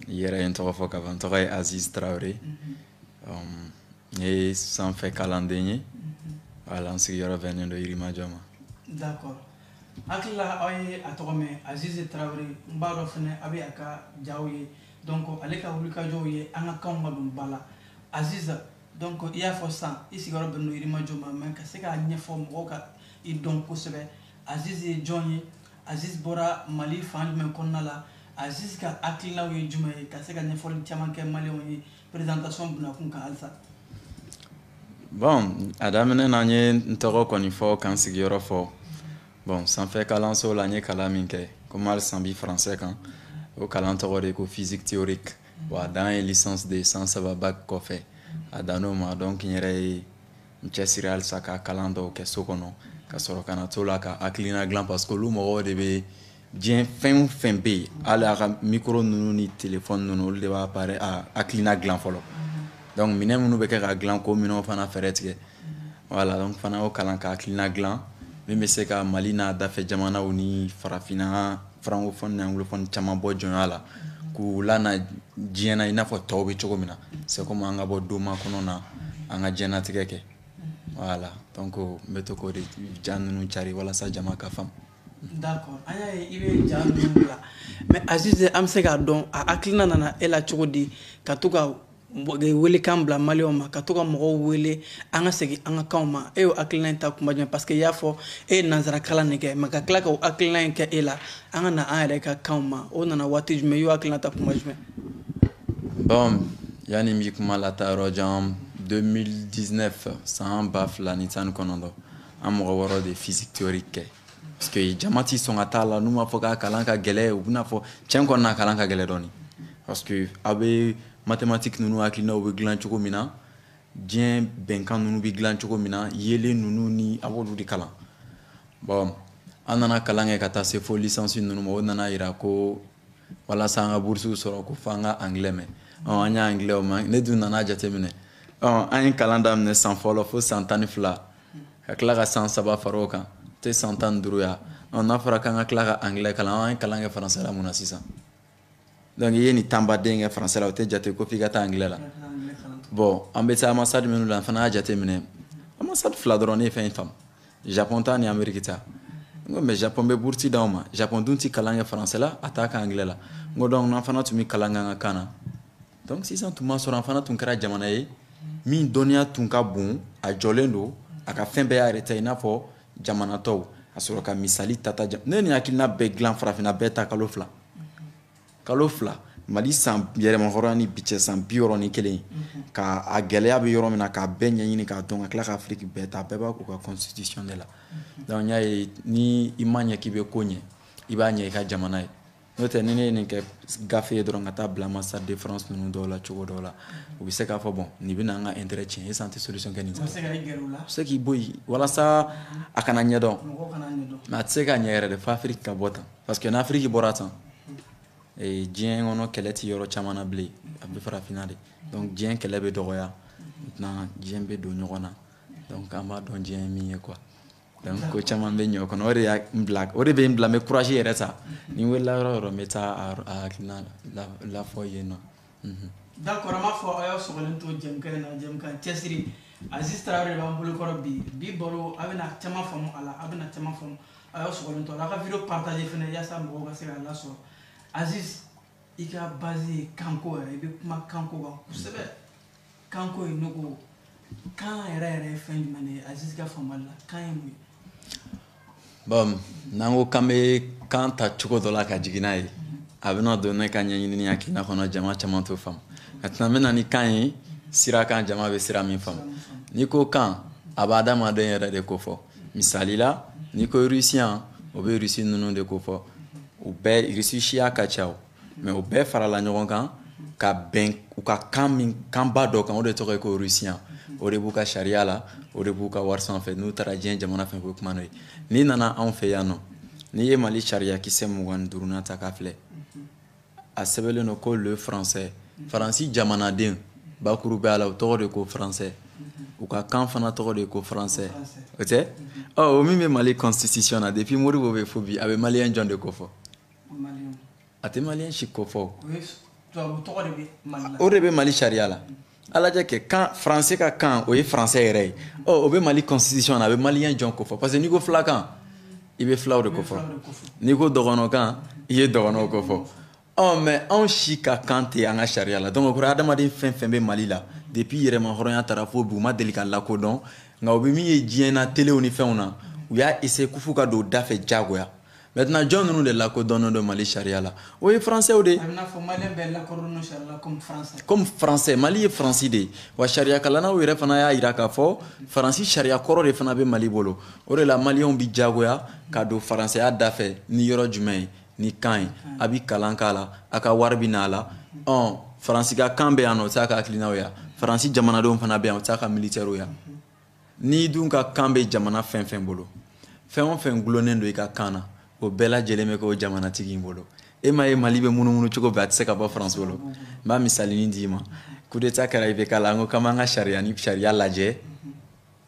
yɛrɛ ye n tɔgɔ fɔ ka ban n tɔgɔ ye aziz traoré um, n ye sanfɛ kalanden ye voilà n sigiyɔrɔ bɛnnen don yirimajɔ ma d'accord hakili la aw ye a tɔgɔ mɛn aziz traoré n b'a dɔn fɛnɛ a bɛ a ka jaw ye donc ale ka wulikajɔw ye an ka kanw ka don ba la aziz donc i y'a fɔ sisan i sigiyɔrɔ bɛnnen don yirimajɔ ma mais ka se k'a ɲɛfɔ mɔgɔw ka i dɔn kosɛbɛ Aziz ye jɔn ye Aziz bɔra Mali fan jumɛn kɔnɔna la Aziz ka hakilinaw ye jumɛn ye ka se ka ɲɛfɔli caman kɛ maliyɛnw ye présentation bunakun kan halisa bon a daminɛ na n ye n tɔgɔ kɔni fɔ ka n sigiyɔrɔ fɔ bon sanfɛ kalanso la n ye kalan min kɛ komi halisa an bi français kan o kalan tɔgɔ de ko physique théorique bon a dan ye licence de ye san saba bac kɔfɛ a dann'o ma donc n yɛrɛ ye n cɛsiri halisa ka kalan dɔw kɛ so kɔnɔ ka sɔrɔ ka na to la ka hakilina dilan parce que olu mɔgɔw de bɛ diɲɛ fɛn o fɛn bɛ yen hali a ka micro ninnu ni téléphone ninnu olu de b'a pare a hakilina dilan fɔlɔ donc minɛn minnu bɛ kɛ ka dilan k'o minɛnw fana fɛɛrɛ tigɛ voilà donc fana y'o kalan ka hakilina dilan min bɛ se ka Mali n'a dafɛ jamanaw ni farafinna francophone ni anglophone caman bɔ jɔnya la k'u lana diɲɛ na i n'a fɔ tɔw bɛ cogo min na c'est comme an ka bɔ doma kɔnɔ na an ka diɲɛnatigɛ kɛ voilà donc n bɛ to k'o de ja ninnu cari walasa jama ka faamu d'accord an y'a ye i bɛ ja ninnu bila mais aziz an bɛ se k'a dɔn a hakilina nana e la cogo di ka to ka welekan bila maliyɛnw ma ka to ka mɔgɔw wele an ka segin an ka kanw ma e y'o hakilina in ta kuma jumɛn parce que i y'a fɔ e ye nanzara kalan de kɛ mais ka tila ka o hakilina in kɛ e la an ka na an yɛrɛ ka kanw ma o nana waati jumɛn i y'o hakilina ta kuma jumɛn bon yanni n bi kuma lataa yɔrɔ jan 2019 san ba fila ni tan ni kɔnɔntɔn an mɔgɔ wɔɔrɔ de ye physique théorique kɛ parce que jama ti sɔn ka t'a la n'u m'a fɔ k'a kalan ka gɛlɛ u bɛn'a fɔ tiɲɛ kɔni na kalan ka gɛlɛ dɔɔni parce que aw bɛ mathématique ninnu hakilinaw bɛ dilan cogo min na diɲɛ bɛnkan ninnu bɛ dilan cogo min na yeelen ninnu ni a b'olu de kalan bon an nana kalan kɛ ka taa se fo licence ninnu ma o nana yira ko walasa an ka burusiw sɔrɔ ko fo an ka angilɛ mɛn an y'a angilɛ o ma ne dun nana jateminɛ an ye kalan daminɛ san fɔlɔ fo san tan ni fila ka tila ka san saba fara o kan tɛ san tan ni duuru ye a n'a fɔra k'an ka tila ka angilɛ kalan an ye kalan kɛ faransɛ la mun na sisan donc i ye nin tanba den kɛ faransɛ la o tɛ jate ko f'i ka taa angilɛ la bon an bɛ se anbasadi minnu la an fana y'a jateminɛ anbasadi fila dɔrɔn de ye fɛn in faamu japɔn ta ni ameriki ta n ko mais japɔn bɛ bourse d'anw ma japɔn dun tɛ kalan kɛ faransɛ la a t'a kɛ angilɛ la n ko donc n'an fana tun bɛ kalan k'an ka kan na donc sisan tun b'a sɔrɔ an fana tun kɛra jamana ye min dɔnniya tun ka bon a jɔlen don a ka fɛn bɛɛ y'a yɛrɛ ta i n'a fɔ jamana tɔw a sɔrɔ ka misali tata ne ni hakilina bɛɛ dilan farafinna bɛɛ ta kalo fila kalo fila mali san yɛrɛmahɔrɔnya ni bi cɛ san biwɔɔrɔ ni kelen mhm. ka a gɛlɛya bɛ yɔrɔ min na k'a bɛɛ ɲɛɲini k'a dɔn ka tila ka afiriki bɛɛ ta bɛɛ b'a k'u ka constitution de la mhm. donc n y'a ye ni i ma ɲɛ k'i bɛ ko ɲɛ i b'a ɲɛ i ka jamana ye n'o tɛ ni ne ye nin kɛ gafe ye dɔrɔn ka taa bila ambassade de france ninnu dɔw la cogo dɔw la mhm. u bɛ se k'a fɔ bon nin bɛna an ka intérêt tiɲɛ est-ce an tɛ solution kɛ nin ta u se k'i bɔ yen walasa a kana ɲɛdɔn mais a tɛ se ka ɲɛ yɛrɛ de fo afiriki ka bɔ tan parce que n'afiriki bɔra tan ee diɲɛ kɔnɔ kɛlɛ tɛ yɔrɔ caman na bilen a bɛ farafinna de donc diɲɛ kɛlɛ bɛ dɔgɔya maintenant diɲɛ bɛ don ɲɔgɔn na donc an b'a dɔn diɲɛ ye min ye quoi donc ko caman bɛ ɲɛ o kɔnɔ o de y'an bila o de bɛ n bila n bɛ courage yɛrɛ ta ni n wulila yɔrɔ o yɔrɔ n bɛ taa a hakilina lafɔ yen nɔ D'accord an b'a fɔ a y'a sɔgɔlen to jɛmukan na jɛmukan cɛsiri aziz traoré de b'an bolokɔrɔ bi bi baro a bɛna caman faamu a la a bɛna caman faamu a y'a sɔgɔlen to a la a ka vidéo partager fana yaasa mɔgɔ ka se k'a lasɔrɔ aziz i ka base ye kanko yɛrɛ i bɛ kuma kanko kan kosɛbɛ kanko ye ne ko kan yɛrɛ yɛrɛ ye fɛn jumɛn ye aziz ka faamuyali la kan ye mun ye bon n'an ko k'an bɛ kan ta cogo dɔ la ka jigin n'a ye a bɛna don ne ka ɲɛɲini ni hakilina kɔnɔ jama caman t'o faamu maintenant n bɛ na ni kan ye sira kan jama bɛ sira min faamu n'i ko kan a bɛ adamaden yɛrɛ de ko fɔ misali la n'i ko rusiyan o bɛ rusi ninnu de ko fɔ u bɛɛ rusi siya ka ca o mais u bɛɛ farala ɲɔgɔn kan ka bɛn u ka kan min kanba dɔ kan o de tɔgɔ ye ko rusiyan o de b'u ka sariya la o de b'u ka wari sanfɛ n'u taara diɲɛ jamana fɛ ko kuma n'o ye n'i nana anw fɛ yan nɔ n'i ye mali sariya kisɛ mugan duurunan ta k'a filɛ a sɛbɛnlen don ko le français faransi jamanaden bakuru bɛ a la o tɔgɔ de ko français u ka kan fana tɔgɔ de ko français o tɛ ɔ o min bɛ mali constitution na depuis modibo bɛ fo bi a bɛ maliyɛn jɔn de ko fɔ a tɛ maliyɛn si ko fɔ o de bɛ mali sariya la a lajɛ kɛ kan faransɛ ka kan o ye faransɛ yɛrɛ ye ɔ o bɛ mali constitution na a bɛ maliyɛn jɔn ko fɔ parce que n'i ko fulakan i bɛ fulaw de ko fɔ n'i ko dɔgɔnɔkan i ye dɔgɔnɔw ko fɔ ɔ mais anw si ka kan tɛ an ka sariya la donc o kɔrɔ adamaden fɛn fɛn bɛ mali la depuis yɛrɛmahɔrɔnya tara fo bi u ma deli ka lakodɔn nka u bɛ min ye diɲɛ na telew ni fɛnw na u y'a essayer kufu ka don u da fɛ diyagoya Maintenant jɔn ninnu de lakodɔnnen don Mali sariya la o ye français de ye. A bɛ n'a fɔ maliyɛn bɛɛ lakodɔnnen don sariya la comme français. Comme français Mali ye Faransi de ye wa sariya kalannaw yɛrɛ fana y'a jira k'a fɔ Faransi sariya kɔrɔ de fana bɛ Mali bolo o de la maliyɛnw bɛ diyagoya ka don faransɛya da fɛ ni yɔrɔ jumɛn ye ni kan ye a bɛ kalan k'a la a ka wari bɛ n'a la ɔ faransi ka kan bɛ yan nɔ o t'a ka hakilinaw ye wa faransi jamanadenw fana bɛ yan o t'a ka militɛriw ye wa. n'i dun ka kan bɛ jamana fɛn fɛn bolo fɛn o fɛn gulonnen don i ka kan na o bɛɛ lajɛlen bɛ k'o jamanatigi in bolo e ma ye mali bɛ munumunu cogo bɛɛ a tɛ se ka bɔ faransi bolo n b'a misalinin d'i ma kudeta kɛra ibk la an ko k'an b'an ka sariya ni sariya lajɛ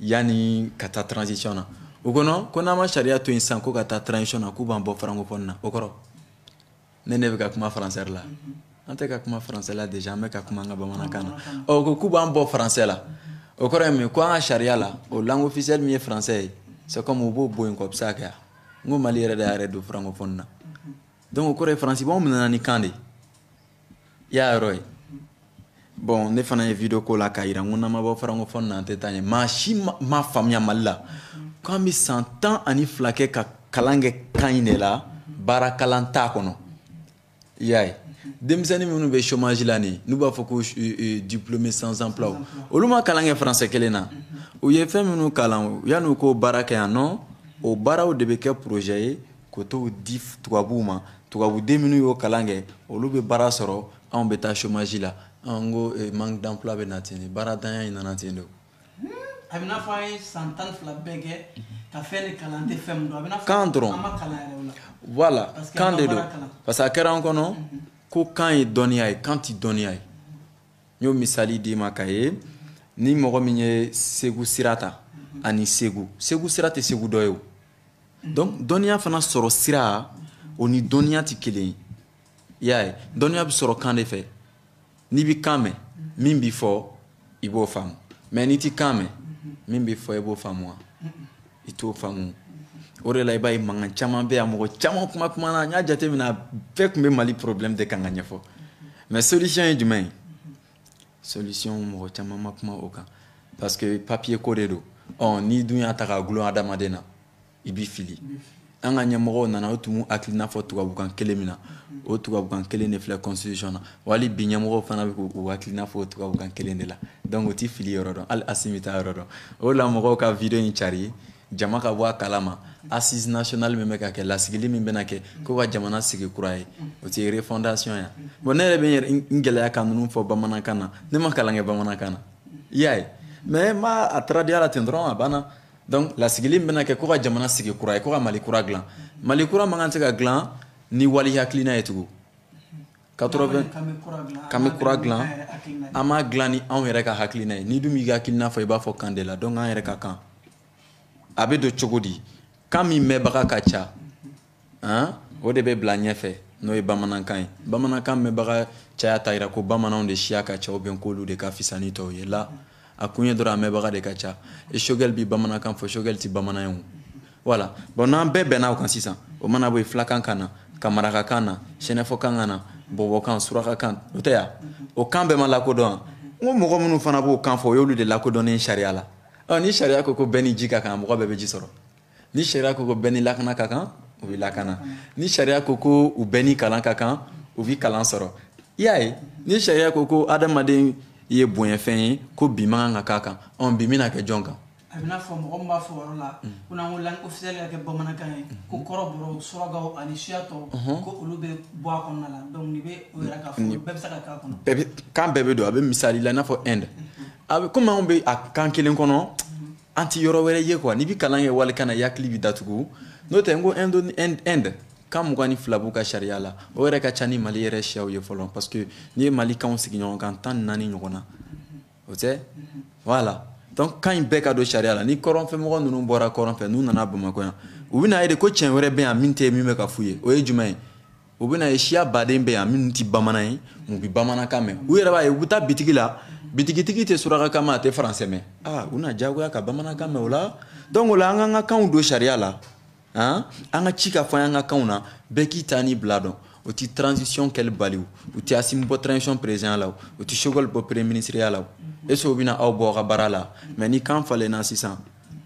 yanni ka taa transition na o kɔnɔ ko n'an ma sariya to yen sisan ko ka taa transition na k'u b'an bɔ francophonie na o kɔrɔ ne ne bɛ ka kuma faransɛ la an tɛ ka kuma faransɛ la déjà an bɛ ka kuma an ka bamanankan na ɔ ko k'u b'an bɔ faransɛ la o kɔrɔ ye mun ye ko an ka sariya la o langue officielle min ye faransɛ ye c'est u b'o bɔ yen k'o bɛ se ka kɛ yan n ko mali yɛrɛ de y'a yɛrɛ don francophonie na donc o kɔrɔ ye faransi b'anw minɛna ni kan de i y'a yɔrɔ ye bɔn ne fana ye video k'o la k'a yira n ko n'an ma bɔ farankofɔni na an tɛ taa ɲɛ maa si ma faamuya mali la k'an bɛ san tan ani fila kɛ ka kalan kɛ kan in de la baara kalan t'a kɔnɔ i y'a ye denmisɛnnin minnu bɛ chômage la nin n'u b'a fɔ ko diplômé sans emploi olu ma kalan kɛ français kelen na u ye fɛn minnu kalan yan'u k'o baara kɛ yan nɔ o baaraw de bɛ kɛ projet ye K'o t'o di tubabuw ma tubabuden minnu y'o kalan kɛ olu bɛ baara sɔrɔ anw bɛ taa chômage la an ko manque d'emploi bɛ na ten nin baarantanya in nana ten de a bɛ n'a fɔ an ye san tan ni fila bɛɛ kɛ ka fɛn kalan tɛ fɛn a bɛ kan dɔrɔn voilà kan de don parce que a kɛra an kɔnɔ ko kan ye dɔnniya ye kan tɛ dɔnniya ye n y'o misali d'i ma k'a ye ni mɔgɔ min ye segu sira ta ani segu segu sira tɛ segu dɔ ye donc dɔnniya fana sɔrɔ sira o ni dɔnniya tɛ kelen ye i y'a ye dɔnniya bɛ sɔrɔ kan de fɛ n'i bɛ kan mɛn min bɛ fɔ i b'o faamu mais n'i tɛ kan mɛn min bɛ fɔ i b'o faamu wa i t'o faamu o de la i b'a ye mankan caman bɛ yan mɔgɔ caman kuma kumana n y'a jateminɛ a bɛɛ tun bɛ mali problème de kan k'a ɲɛfɔ mais solution ye jumɛn ye solution mɔgɔ caman ma kuma o kan parce que papier ko de don ɔ n'i dun y'a ta k'a gulon adamaden na i b'i fili an ka ɲɛmɔgɔw nana u tun b'u hakilina fɔ tubabukan kelen min na o tubabukan kelen de filɛ constitution na wali bi ɲɛmɔgɔw fana bɛ k'u hakilina fɔ o tubabukan kelen de la donc u tɛ fili yɔrɔ dɔn hali asimi t'a yɔrɔ dɔn o la mɔgɔw ka video in cari jama ka bɔ a kalama assise nationale min bɛ ka kɛ lasigili min bɛna kɛ ko ka jamana sigi kura ye o tɛ refondation ya bon ne yɛrɛ bɛ n yɛrɛ n gɛlɛya ka ninnu fɔ bamanankan na ne ma kalan kɛ bamanankan na i y'a ye mais n b'a a traduire la ten dɔrɔn a banna donc lasigili min bɛna kɛ ko ka jamana sigi kura ye ko ka mali kura dilan mali kura man kan tɛ ka dilan ni wali hakilina ye tugun Ka mali kura dilan an ma dilan ni anw yɛrɛ ka hakilina ye n'i dun b'i hakilina fɔ i b'a fɔ kan de la donc an yɛrɛ ka kan a bɛ don cogo di kan min mɛnbaga ka ca o de bɛ bila ɲɛfɛ n'o ye bamanankan ye bamanankan mɛnbaga caya t'a jira ko bamananw de siya ka ca ou bien k'olu de ka fisa ni tɔw ye la a kun ye dɔrɔn a mɛnbaga de ka ca et choguel bɛ bamanankan fɔ choguel tɛ bamanan ye voilà bon n'an bɛɛ bɛnna o kan sisan o mana bɔ fulakan ka na ka marakakan na sɛnɛfɔkan ka na bɔbɔkan surakakan o tɛ yan o kan bɛɛ ma lakodɔn n ko mɔgɔ minnu fana b'o kan fɔ o y'olu de lakodɔnnen sariya la ɔ ni sariya ko ko bɛɛ ni ji ka kan mɔgɔ bɛɛ bɛ ji sɔrɔ ni sariya ko ko bɛɛ ni lakana ka kan u bɛ lakana ni sariya ko ko u bɛɛ ni kalan ka kan u bɛ kalan sɔrɔ i y'a ye ni sariya ko ko adamaden ye bonyafɛn ye ko bin man kan ka k'a kan ɔ bin bɛna kɛ jɔn kan a bɛ n'a fɔ mɔgɔ min b'a fɔ yɔrɔ la ko n'an ko langue officielle ka kɛ bamanankan ye ko kɔrɔbɔrɔw surakaw ani siya tɔw ko olu bɛ bɔ a kɔnɔna la donc nin bɛ o yɛrɛ k'a fɔ bɛɛ bɛ se ka k'a kɔnɔ bɛɛ bɛ kan bɛɛ bɛ don a bɛ misali la i n'a fɔ Inde a bɛ komi anw bɛ a kan kelen kɔnɔ an tɛ yɔrɔ wɛrɛ ye quoi n'i bɛ kalan kɛ walikan na i hakili bɛ datugu n'o tɛ n ko Inde Inde kan mugan ni fila b'u ka sariya la o yɛrɛ ka ca ni Mali yɛrɛ siyaw ye fɔlɔ parce que n'i ye Mali kanw sigi ɲɔgɔn kan tan ni naani ɲɔgɔn na o tɛ voilà donc kan in bɛɛ ka don sariya la ni kɔrɔnfɛmɔgɔ ninnu bɔra kɔrɔnfɛ n'u nana bamakɔ yan u bɛna ye de ko cɛn wɛrɛ bɛ yan min tɛ min bɛ ka f'u ye o ye jumɛn ye u bɛna ye siya baden bɛ yan minnu tɛ bamanan ye u bɛ bamanankan mɛn u yɛrɛ b'a ye u bɛ taa bitigi la bitigitigi tɛ surakakan mɛn a tɛ faransɛ mɛn aa u na diyagoya ka bamanankan mɛn o la donc o la an ka kan ka kan don sariya la an an ka ci ka fɔ an ka kanw na bɛɛ k'i ta ni bila donc o ti transition kɛli bali o u ti assimi bɔ transition président la o u ti choguel bɔ premier ministreya la o est ce que o bɛna aw bɔ aw ka baara la mais ni kan falenna sisan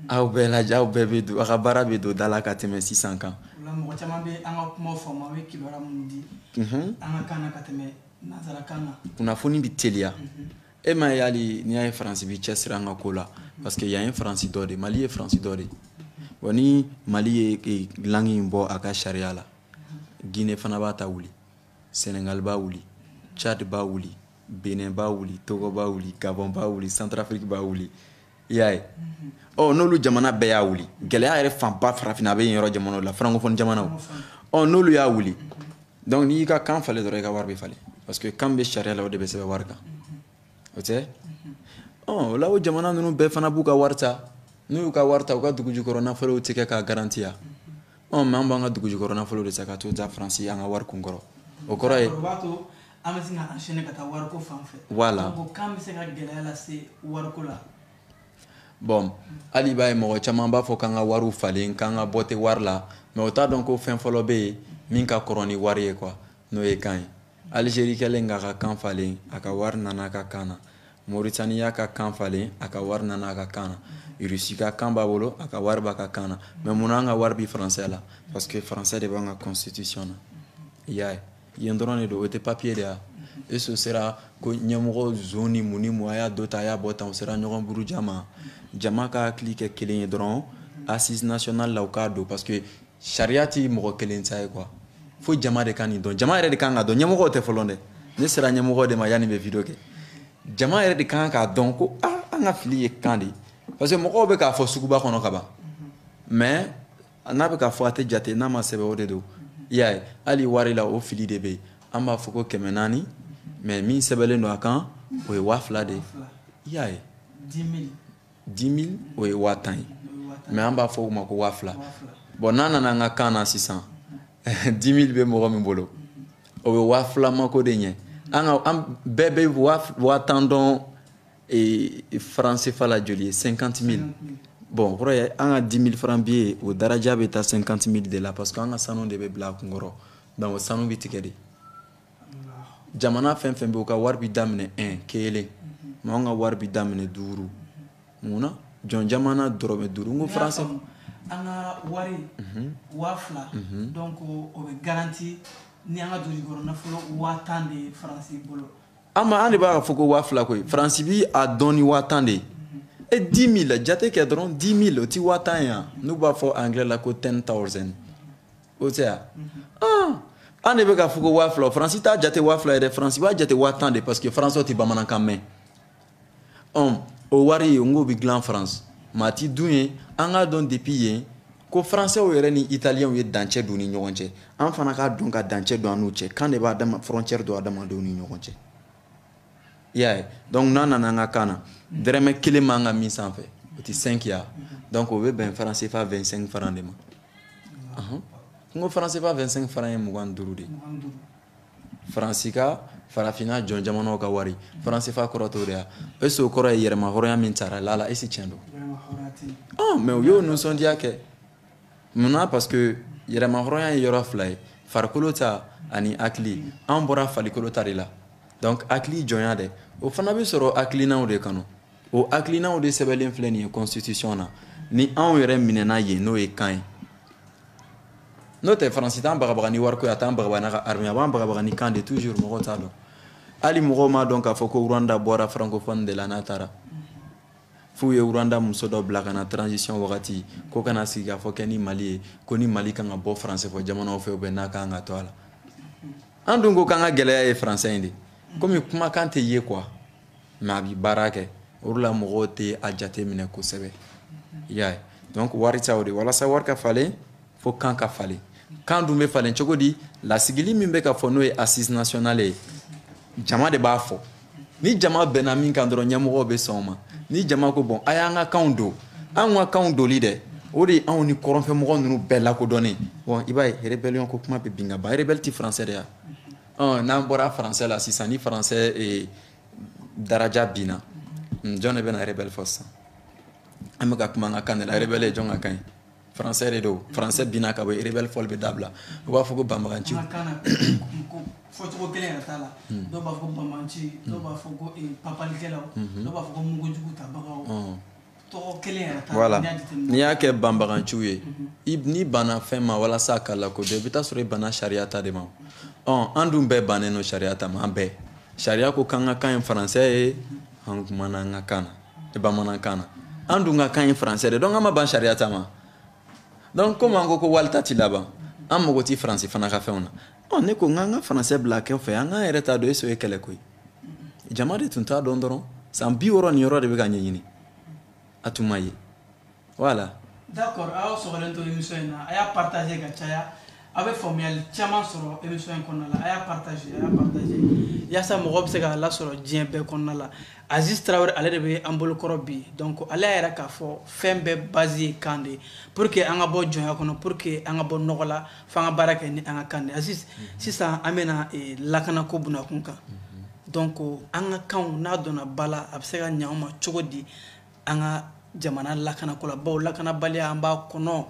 aw bɛɛ lajɛ aw bɛɛ bɛ don aw ka baara bɛ don da la ka tɛmɛ sisan kan mɔgɔ caman bɛ an ka kuma faamu a bɛ kibaruya minnu di an ka kan na ka tɛmɛ nanzarakan na kunnafoni bɛ teliya e m'a ye hali n'i y'a ye faransi bi cɛsiri an ka ko la parce que yan ye faransi dɔ de mali ye faransi dɔ de bon ni mali ye e, langue in bɔ a ka sariya la guinée fana b'a ta wuli senegal b'a wuli tchad b'a wuli benin b'a wuli togo b'a wuli gabon b'a wuli centrafrique b'a wuli i y'a ye ɔ n'olu jamana bɛɛ y'a wuli gɛlɛya yɛrɛ fanba farafinna a bɛ yen yɔrɔ jamanaw la francophone jamanaw ɔ n'olu y'a wuli donc n'i y'i ka kan falen dɔrɔn i ka wari bɛ falen parce que kan bɛ sariya la o de bɛ sɛbɛn wari kan o tɛ ɔ o la o jamana ninnu bɛɛ fana b'u ka wari ta n'u y'u ka wari ta u ka dugujukɔrɔ nafolow tɛ kɛ k'a garantiya ɔ mais an b'an ka dugujukɔrɔ nafolo de ta ka t'o ta faransi an ka wari kun kɔrɔ o kɔrɔ ye an bɛ se ka enchaîner ka taa wariko fan fɛ voilà donc kan bɛ se ka gɛlɛya lase wariko la bon hali i b'a ye mɔgɔ caman b'a fɔ k'an ka wariw falen k'an ka bɔ tɛ wari la mais o t'a dɔn ko fɛn fɔlɔ bɛ yen min ka kɔrɔ ni wari ye quoi n'o ye kan ye Algérie kɛlen k'a ka kan falen a ka wari nana a ka kan na Mauritanie y'a ka kan falen a ka wari nana a ka kan na Russie ka kan b'a bolo a ka wari b'a ka kan na mais munna an ka wari bi faransɛ la parce que faransɛ de b'an ka constitution na i y'a ye yen dɔrɔn de don o tɛ papier de ya eso sera ko ɲɛmɔgɔ zon ni mun ni mun a y'a dɔ ta a y'a bɔ tan o sera ɲɔgɔn buruja ma jama ka hakili kɛ kelen ye dɔrɔn assise nationale la u k'a don parce que sariya ti mɔgɔ kelen ta ye quoi fo jama de ka nin dɔn jama yɛrɛ de kan k'a dɔn ɲɛmɔgɔ tɛ fɔlɔ dɛ ne sera ɲɛmɔgɔ de ma yann'i bɛ video kɛ jama yɛrɛ de kan k'a dɔn ko ah an ka fili ye kan de ye parce que mɔgɔw bɛ k'a fɔ suguba kɔnɔ ka ban mais a n'a bɛ k'a fɔ a tɛ jate n'a ma sɛbɛn o de don i y'a ye hali wari la o fili de bɛ yen an b'a fɔ ko kɛmɛ naani mais min sɛbɛnlen don a kan o ye waa fila de ye i y'a ye dix mille o ye waa tan ye mais an b'a fɔ o ma ko waa fila bon n'a nana an ka kan na sisan dix mille bɛ mɔgɔ min bolo o bɛ waa fila mako de ɲɛ an ka an bɛɛ bɛ waa tan dɔn Ee franc CFA la joli ye cinquante mille bon o kɔrɔ ye an ka dix mille francs billet o daraja bɛ taa cinquante mille de la parce que an ka sanu de bɛ bila a kunkɔrɔ donc o sanu bɛ tigɛ de jamana fɛn fɛn bɛ u ka wari bɛ daminɛ e kelen mais an ka wari bɛ daminɛ duuru munna jɔn jamana dɔrɔmɛ duuru ko fara sɔrɔ an ka wari waa fila donc o garanti ni an ka dugu nafolo waa tan de ye faransi bolo an ma an de b'a fɔ ko waa fila koyi faransi bi a dɔn ni waa tan de ye e dix mille jate kɛ dɔrɔn dix mille o ti waa tan ye yan n'u b'a fɔ anglais la ko ten thousand o tɛ yan anw de bɛ k'a fɔ ko waa fila faransi t'a jate waa fila ye dɛ faransi b'a jate waa tan de parce que faransɛw tɛ bamanankan mɛn ɔn o wari ye nk'o bɛ dilan faransi maa ti dun ye an k'a dɔn depuis yen ko faransɛw yɛrɛ ni italiyɛnw ye dancɛ don ni ɲɔgɔn cɛ an fana k'a dɔn ka dancɛ don an n'u cɛ kan de b'a dama frontière don adamadenw ni ɲɔgɔn cɛ i y'a ye donc n'a nana an ka kan na dɛrɛmɛ kelen man ka min sanfɛ o tɛ cinq ya donc o bɛ bɛn franc CFA vingt cinq francs de ma n ko franc CFA vingt cinq francs ye mugan ni duuru de ye faransi ka farafinna jɔn jamanaw ka wari franc CFA kɔrɔ t'o de ya est ce que o kɔrɔ ye yɛrɛma hɔrɔnya min tara la la est ce que tiɲɛ don ah mais u y'o nisɔndiya kɛ mun na parce que yɛrɛma hɔrɔnya ye yɔrɔ fila ye farikolo ta ani hakili an bɔra farikolo ta de la donc hakili jɔnya dɛ o fana bɛ sɔrɔ hakilinaw de kɔnɔ o hakilinaw de sɛbɛnlen filɛ nin ye constitution na ni anw yɛrɛ minɛna yen n'o ye kan ye n'o tɛ faransi t'an bagabaga ni wariko ye a t'an bagabaga n'a ka armée a b'an bagabaga ni kan de toujours mɔgɔw t'a dɔn hali mɔgɔw m'a dɔn k'a fɔ ko rwanda bɔra francophone de la n'a taara f'u ye rwanda muso dɔ bila ka na transition wagati ko ka na sigikafɔ kɛ ni mali ye ko ni mali kan ka bɔ français fɔ jamanaw fɛ ou bien n'a kan ka to a la an dun ko k'an ka gɛlɛya ye français in de komi kumakan tɛ ye quoi mais a bɛ baara kɛ o la mɔgɔw tɛ a jate minɛ kosɛbɛ i y'a ye donc wari o de walasa wari ka falen fo kan ka falen kan dun bɛ falen cogo di lasigili min bɛ ka fɔ n'o ye assises nationales ye jama de b'a fɔ ni jama bɛnna min kan dɔrɔn ɲɛmɔgɔ bɛ sɔn o ma ni jama ko bon a y'an ka kan don an ka kan doli dɛ o de ye anw ni kɔrɔnfɛmɔgɔ ninnu bɛɛ lakodɔnnen i b'a ye rébellion ko kuma bɛ bin ka bɔ yen rebelle tɛ français de ya ɔn n'an bɔra français la sisan ni français eh, daraja binna jɔn de bɛna rebelle fɔ sisan an bɛ ka kuma an ka kan de la rebelle ye jɔn ka kan ye français de don français binna ka bɔ yen rebelle fɔli bɛ dabila u b'a fɔ ko banbaganciw fɔcogo kelen yɛrɛ t'a la hmm. dɔw b'a fɔ ko banbanci dɔw b'a fɔ ko eh, papalikɛlaw hmm. dɔw b'a fɔ ko mugujugutabagaw voilà n'i y'a kɛ banbaganciw ye n'i banna fɛn ma walasa a ka lakodɔn i bɛ taa sɔrɔ i banna sariya ta de ma an dun bɛɛ bannen don sariya ta ma an bɛɛ sariya ko k'an ka kan ye français ye an kumana an ka kan na e bamanankan na an dun ka kan ye français de donc an ma ban sariya ta ma donc komi an ko ko wali ta tɛ laban an mago tɛ faransi fana ka fɛnw na ɔ ne ko n k'an ka français bila kɛrɛfɛ an k'an yɛrɛ ta don est ce o ye kɛlɛ ko ye jama de tun t'a dɔn dɔrɔn san bi wɔɔrɔ nin yɔrɔ de bɛ ka ɲɛɲini a tun ma ye voilà d'accord a y'aw sɔgɔlen to émission in na a y'a partager ka caya a bɛ faamuyali caman sɔrɔ émission in kɔnɔna la a y'a partager a y'a partager yaasa mɔgɔ bɛ se k'a lasɔrɔ diɲɛ bɛɛ kɔnɔna la Aziz Traore ale de bɛ an bolokɔrɔ bi donc ale y'a yira k'a fɔ fɛn bɛɛ base ye kan de ye pour que an ka bɔ jɔnya kɔnɔ pour que an ka bɔ nɔgɔ la f'an ka baara kɛ ni an ka kan de aziz sisan an bɛna eh, lakanako bunakun kan donc an ka kanw n'a donna ba la a bɛ se ka ɲɛ anw ma cogo di an ka jamana lakanako la bawo lakanabaliya an b'a kɔnɔ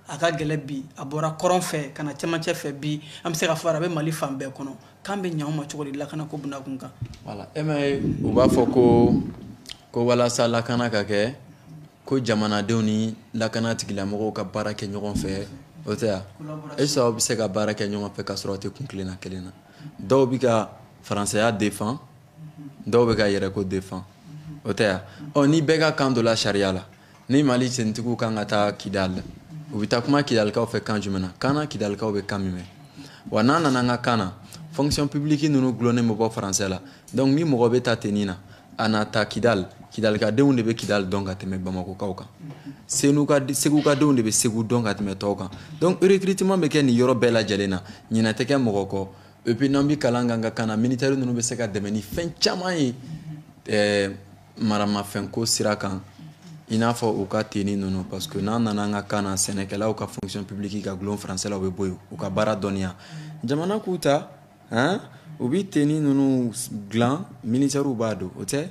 a ka gɛlɛ bi a bɔra kɔrɔn fɛ ka na cɛmancɛ fɛ bi an bɛ se k'a fɔ a bɛ mali fan bɛɛ kɔnɔ kan bɛ ɲɛ anw ma cogo di lakanako bunakun kan voilà e ma ye u b'a fɔ ko ko walasa lakana ka kɛ Ko jamanadenw ni lakana tigilamɔgɔw ka baara kɛ ɲɔgɔn fɛ o tɛ yan est-ce que aw bɛ se ka baara kɛ ɲɔgɔn fɛ ka sɔrɔ aw tɛ kun kelenna kelen na dɔw bɛ ka faransɛya défend dɔw bɛ ka yɛrɛko défend o tɛ yan ɔ ni bɛɛ ka kan donna sariya la ni mali tenitigiw kan ka taa kidal u bɛ taa kuma kidalikaw fɛ kan jumɛn na kan kidalikaw bɛ kan min mɛn wa n'an nana an ka kan na fonction publique ninnu dulonnen bɛ bɔ faransɛ la donc ni mɔgɔ bɛ ta tenni na a na ta kidal kidalikadenw de bɛ kidal dɔn ka tɛmɛ bamakokaw kan segukadenw de bɛ segu dɔn ka tɛmɛ tɔw kan donc recrutement bɛ kɛ nin yɔrɔ bɛɛ lajɛlen na ɲinɛ tɛ kɛ mɔgɔ kɔ et puis n'an bɛ kalan k'an ka kan na militaire ninnu bɛ se ka dɛmɛ ni fɛn caman ye ɛɛ maramafɛnko sira kan i n'a fɔ u ka tenni ninnu parce que n'an nana an ka kan na sɛnɛkɛlaw ka fonction publique ka gulon français la u bɛ bɔ yen u ka baara dɔnniya jamana k'u ta u bɛ tenni ninnu dilan militɛriw b'a don o tɛ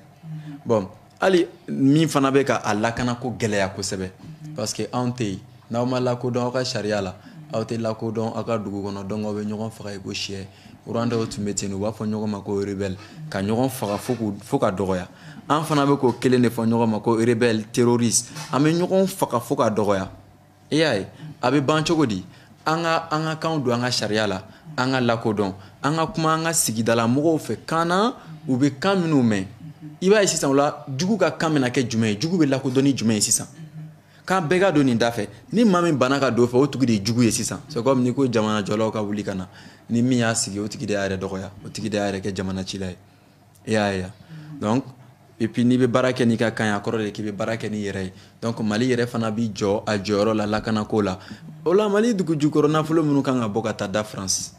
bon hali min fana bɛ k'a lakana ko gɛlɛya kosɛbɛ parce que anw tɛ yen n'aw ma lakodɔn aw ka sariya la aw tɛ lakodɔn aw ka dugu kɔnɔ donc aw bɛ ɲɔgɔn faga i ko c'est Rwanda tun bɛ ten u b'a fɔ ɲɔgɔn ma ko rebelle ka ɲɔgɔn faga fo ka dɔgɔya an fana bɛ k'o kelen de fɔ ɲɔgɔn ma ko rebelle terroriste an bɛ ɲɔgɔn faga fo ka dɔgɔya i y'a ye a bɛ ban cogo di an ka an ka kanw don an ka sariya la an ka lakodɔn an ka kuma an ka sigidala mɔgɔw fɛ kan na u bɛ kan minnu mɛn i b'a ye sisan o la jugu ka kan bɛna kɛ jumɛn ye jugu bɛ lakodɔn ni jumɛn ye sisan k'an bɛɛ ka don nin da fɛ ni maa min banna ka don fɛ o tigi de ye jugu ye sisan c'est comme ni ko jamanajɔlaw ka wuli ka na ni min y'a sigi o tigi de y'a yɛrɛ dɔgɔya o tigi de y'a yɛrɛ kɛ jamana cila ye i y'a ye donc et puis n'i bɛ baara kɛ n'i ka kan ye a kɔrɔ de k'i bɛ baara kɛ n'i yɛrɛ ye donc mali yɛrɛ fana bi jɔ a jɔyɔrɔ la lakanako la o la mali dugu jukɔrɔ nafolo minnu kan ka bɔ ka taa da france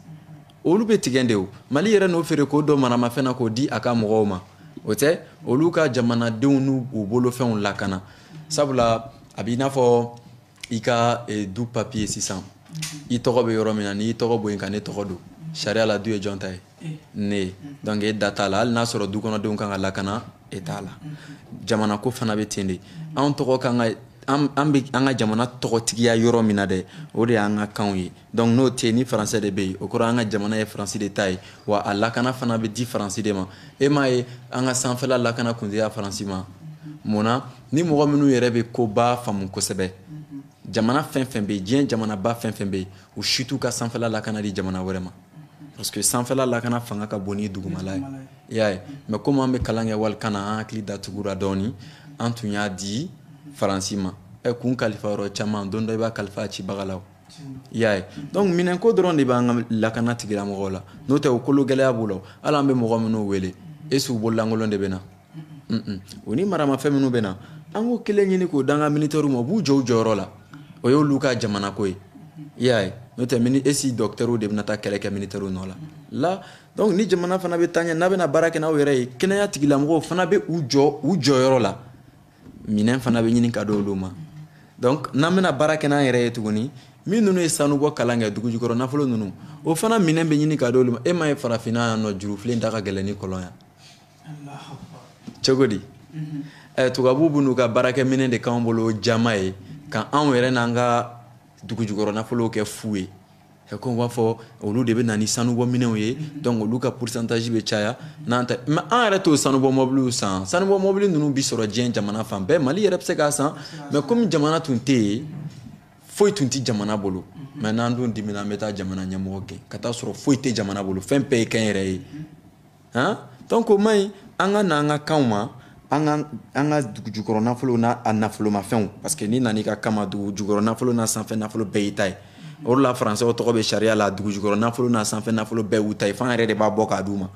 olu bɛ tigɛ de o mali yɛrɛ n'o feere k'o don maramafɛn na k'o di a ka mɔgɔw ma o tɛ olu ka jamanadenw n'u bolofɛnw lakana sabula a b'i n'a fɔ i ka eh, du papiye sisan mhm. i tɔgɔ bɛ yɔrɔ min na n'i tɔgɔ bɔ yen ka ne tɔgɔ don mhm. sariya la du ye jɔn ta ye eh. ne ye mhm. donc e da t'a la hali n'a sɔrɔ du kɔnɔdenw kan ka lakana e t'a la jamana ko fana bɛ ten de anw tɔgɔ kan ka an bɛ an ka jamana tɔgɔtigiya yɔrɔ min na dɛ o de y'an ka kanw ye donc n'o tɛ ni faransɛ de bɛ yen o kɔrɔ an ka jamana ye faransi de ta ye wa a lakana fana bɛ di faransi de ma e m'a ye an ka sanfɛla lakana kun tɛ faransi ma munna ni mɔgɔ minnu yɛrɛ bɛ koba faamu kosɛbɛ jamana fɛn fɛn bɛ yen diɲɛ jamanaba fɛn fɛn bɛ yen u si t'u ka sanfɛla lakana di jamana wɛrɛ ma parce que sanfɛla lakana fanga ka bon ni dugumala ye i y'a ye mais comme an bɛ kalan kɛ walikan na an hakili datugura dɔɔni an tun y'a di faransi ma ɛ kun kalifa yɔrɔ caman don dɔ i b'a kalifa cibaga la y'a ye donc minɛnko dɔrɔn de b'an ka lakana tigilamɔgɔw la n'o tɛ o kologɛlɛya b'u la hali an bɛ mɔgɔ minnu wele est-ce u bololankolon de bɛ na o ni maramafɛn minnu bɛ na an k'o kelen ɲini k'o d'an ka militɛriw ma u b'u jɔ u jɔyɔrɔ la o y'olu ka jamanako ye i y'a ye n'o tɛ mini est-ce dɔkitɛriw de bɛna taa kɛlɛ kɛ militɛriw nɔ la la donc ni jamana fana bɛ taa ɲɛ n'a bɛna baara kɛ n'aw yɛrɛ ye kɛnɛya tigilamɔgɔw fana bɛ u jɔ u jɔyɔrɔ la minɛn fana bɛ ɲini ka di olu ma donc n'an bɛna baara kɛ n'an yɛrɛ ye tuguni min ninnu ye sanubɔ kalan kɛ dugu jukɔrɔ nafolo ninnu o fana minɛn bɛ ɲini ka di olu ma e m'a ye farafinna yan nɔ jurufilen da ka gɛlɛn ni kɔlɔn ye cogo di ɛ tubabuw b'u n'u ka baarakɛminɛn de k'anw bolo jaman ye ka anw yɛrɛ n'an ka dugu jukɔrɔ nafolow kɛ fu ye comme b'a fɔ olu de bɛ na ni sanubɔ minɛnw ye donc olu ka pourcentage bɛ caya n'an ta mais an yɛrɛ t'o sanubɔ mɔbiliw san sanubɔ mɔbili ninnu bi sɔrɔ diɲɛ jamana fan bɛɛ mali yɛrɛ bɛ se k'a san mais comme jamana tun tɛ yen foyi tun tɛ jamana bolo mais n'an dun dimina an bɛ taa jamana ɲɛmɔgɔ gɛn ka taa sɔrɔ foyi tɛ jamana bolo fɛn bɛɛ ye kɛnyɛrɛ ye han donc o man ɲi an ka na an ka kanw ma an ka an ka dugu jukɔrɔ nafolo n'a a nafolomafɛnw parce que n'i nana i ka kan ma dugu jukɔrɔ nafolo n'a sanfɛ nafolo bɛɛ y'i ta ye o de la faransɛw tɔgɔ bɛ sariya la dugu jukɔrɔ nafolo n'a sanfɛ nafolo bɛɛ y'u ta ye f'an yɛrɛ de b'a bɔ k'a d'u ma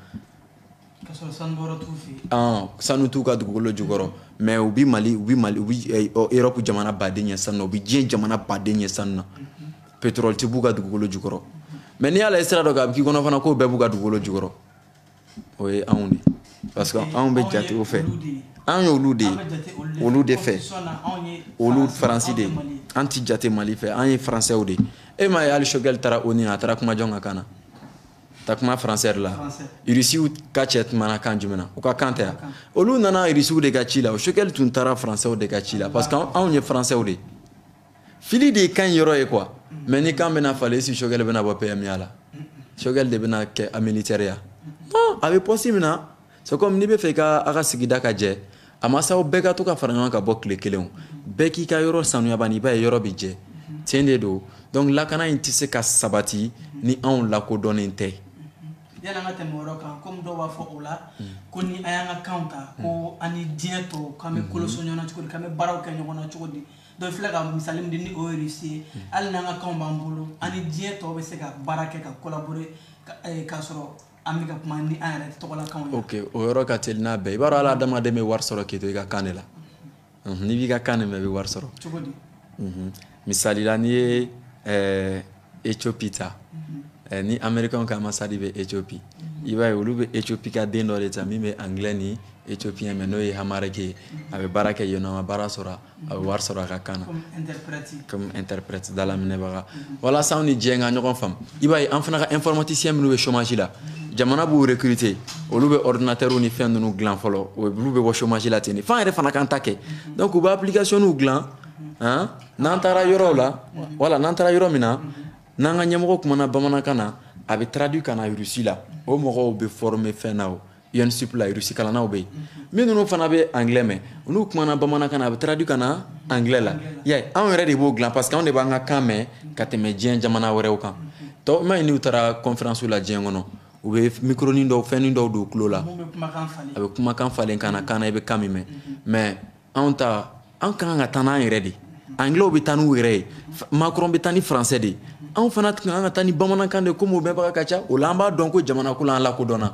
sanu t'u ka dugukolo jukɔrɔ mais u bɛ mali u bɛ mali u bɛ eh, europe jamana baden ɲɛ sanu na u bɛ diɲɛ jamana baden ɲɛ sanu na pétrole tɛ b'u ka dugukolo jukɔrɔ mais n'i y'a lajɛ sira dɔ kan a bɛ k'i kɔnɔ fana k'o bɛɛ b'u ka dugukolo jukɔrɔ o ye anw de parce que anw bɛ jate o fɛ an y'olu de ye olu de fɛ olu faransi de ye an ti jate mali fɛ an ye faransɛw de ye e m'a ye hali sogɛli taara onu a taara kuma jɔn ka kan na ta kuma faransɛ la irisiw ka cɛ kumana kan jumɛn na u ka kan tɛ yan olu nana irisiw de ka ci la o sogɛli tun taara faransɛw de ka ci la parce que anw ye faransɛw de ye fili de ye kan yɔrɔ ye quoi mais ni kan bɛna falen si sogɛli bɛna bɔ pmya la sogɛli de bɛna kɛ a militaire ya non a bɛ poste min na c'est comme n'i bɛ fɛ i ka a ka sigida ka jɛ a ma s'aw bɛɛ ka to ka fara ɲɔgɔn kan ka bɔ tile kelen o bɛɛ k'i ka yɔrɔ sanuya bani i b'a ye yɔrɔ bɛ jɛ tiɲɛ de don donc lakana in tɛ se ka sabati ni anw lakodɔnnen tɛ yala an ka tɛmɛ o yɔrɔ kan komi dɔw b'a fɔ o la ko ni an y'an ka kanw ta ko an ni diɲɛ tɔw k'an bɛ kolo so ɲɔgɔn na cogo di k'an bɛ baaraw kɛ ɲɔgɔn na cogo di donc filɛ ka misali min di ni o ye rusi ye hali n'an ka kanw b'an bolo an ni diɲɛ tɔw bɛ se ka baara kɛ ka collaborer eh, k'a sɔrɔ an bɛ ka kuma ni an yɛrɛ tɔgɔlakanw ye ok o yɔrɔ ka teli n'a bɛɛ i b'a dɔn hali adamaden bɛ wari sɔrɔ k'i to i ka kan de la n'i b'i ka kan de mɛn i bɛ wari sɔrɔ cogo di misali la n'i ye eh, Éthiopie ta eh, ni américain ka ambassade bɛ Éthiopie i b'a ye olu bɛ Éthiopie ka den dɔ de ta min bɛ anglais ni éthiopien mɛn n'o ye amharique ye a bɛ baara kɛ yennɔ a ma baara sɔrɔ a bɛ wari sɔrɔ a ka kan na comme interprète dalaminɛbaga walasa anw ni diɲɛ ka ɲɔgɔn faamu i b'a ye an fana ka informaticien minnu bɛ chômage la jamana b'u recruter olu bɛ ordinateurw ni fɛn ninnu dilan fɔlɔ olu bɛ bɔ chômage la ten de f'an yɛrɛ fana k'an ta kɛ donc u bɛ applicationniw dilan n'an taara yɔrɔw la wala n'an taara yɔrɔ min na n'an ka ɲɛmɔgɔ kumana bamanankan na a bɛ traduit ka na russe la o mɔgɔw bɛ former fɛn na o ENSUP la russe kalannaw bɛ yen minnu fana bɛ anglais mɛn n'u kumana bamanankan na a bɛ traduit ka na anglais la i y'a ye anw yɛrɛ de b'o dilan parce que anw de b'an ka kan mɛn ka tɛmɛ diɲɛ jamana wɛrɛw kan tɔ m'a ye n'u taara conférence la diɲɛ kɔnɔ u bɛ micronin dɔw fɛnnin dɔw don u tulo la a bɛ kumakan falen kan na kan na i bɛ kan min mɛn mais anw ta an ka kan ka taa n'an yɛrɛ de anglaisw bɛ taa n'u yɛrɛ ye Macron bɛ taa ni français de anw fana ka kan ka taa ni bamanankan de ye komi o mɛnbaga ka ca o la an b'a dɔn ko jamana ko la an lakodɔnna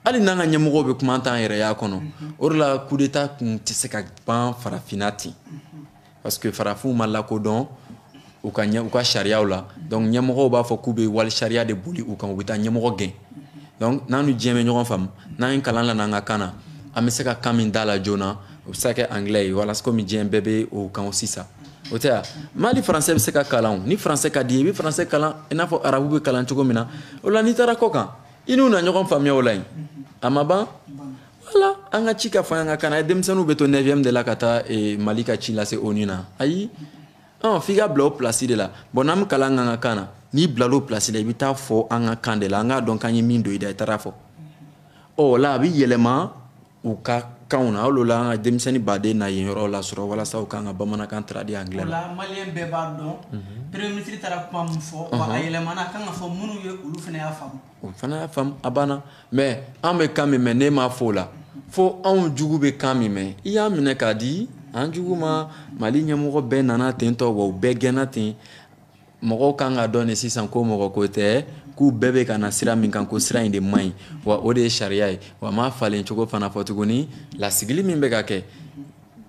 hali n'an ka ɲɛmɔgɔw bɛ kuma an t'an yɛrɛya kɔnɔ o de la coup d'état kun tɛ se ka ban farafinna ten parce que farafinw ma lakodɔn u ka ɲɛ u ka sariyaw la donc ɲɛmɔgɔw b'a fɔ k'u bɛ wali sariya de boli u kan u bɛ taa ɲɛmɔgɔ gɛn donc n'an ni diɲɛ bɛ ɲɔgɔn faamu n'an ye kalan lana an ka kan na an bɛ se ka kan min d'a la joona o bɛ se ka kɛ anglais ye walasa komi diɲɛ bɛɛ bɛ o kan sisan o tɛ a bali français bɛ se ka kalan ni français ka d'i ye i bɛ français kalan i n'a fɔ arabu bɛ kalan cogo min na o la n'i taara kɔ kan i n'u na ɲɔgɔn faamuya o la yen a ma ban wala an ka ci ka fɔ an ka kan na denmisɛnninw bɛ to 9e de la ka taa eh, Mali ka ci lase ONU na ayi ɔn f'i ka bila o place de la bon n'an bɛ kalan k'an ka kan na n'i bilala o place la i bɛ taa a fɔ an ka kan de la an k'a dɔn k'an ye min don i da i taara a fɔ ɔ o la a bɛ yɛlɛma u ka kanw na hali o la an ka denmisɛnnin baden na yen yɔrɔ lasɔrɔ walasa u k'an ka bamanankan traduit anglais la. o la malien bɛɛ b'a dɔn mhm. premier ministre taara kuma min fɔ wa a yɛlɛmana a kan ka fɔ minnu ye olu fana y'a faamu. o fana y'a faamu a banna mais an bɛ kan min mɛn n'e m'a fɔ o la fo anw jugu bɛ kan min mɛn i y'a minɛ k'a di an jugu ma Mali ɲɛmɔgɔ bɛɛ nana ten tɔ wa u bɛɛ gɛnna ten mɔgɔw kan k'a dɔn nin sisan ko mɔgɔ ko tɛ k'u bɛɛ bɛ ka na sira min kan ko sira in de man ɲi wa o de ye sariya ye wa m'a falen cogo fana fɔ tuguni lasigili min bɛ ka kɛ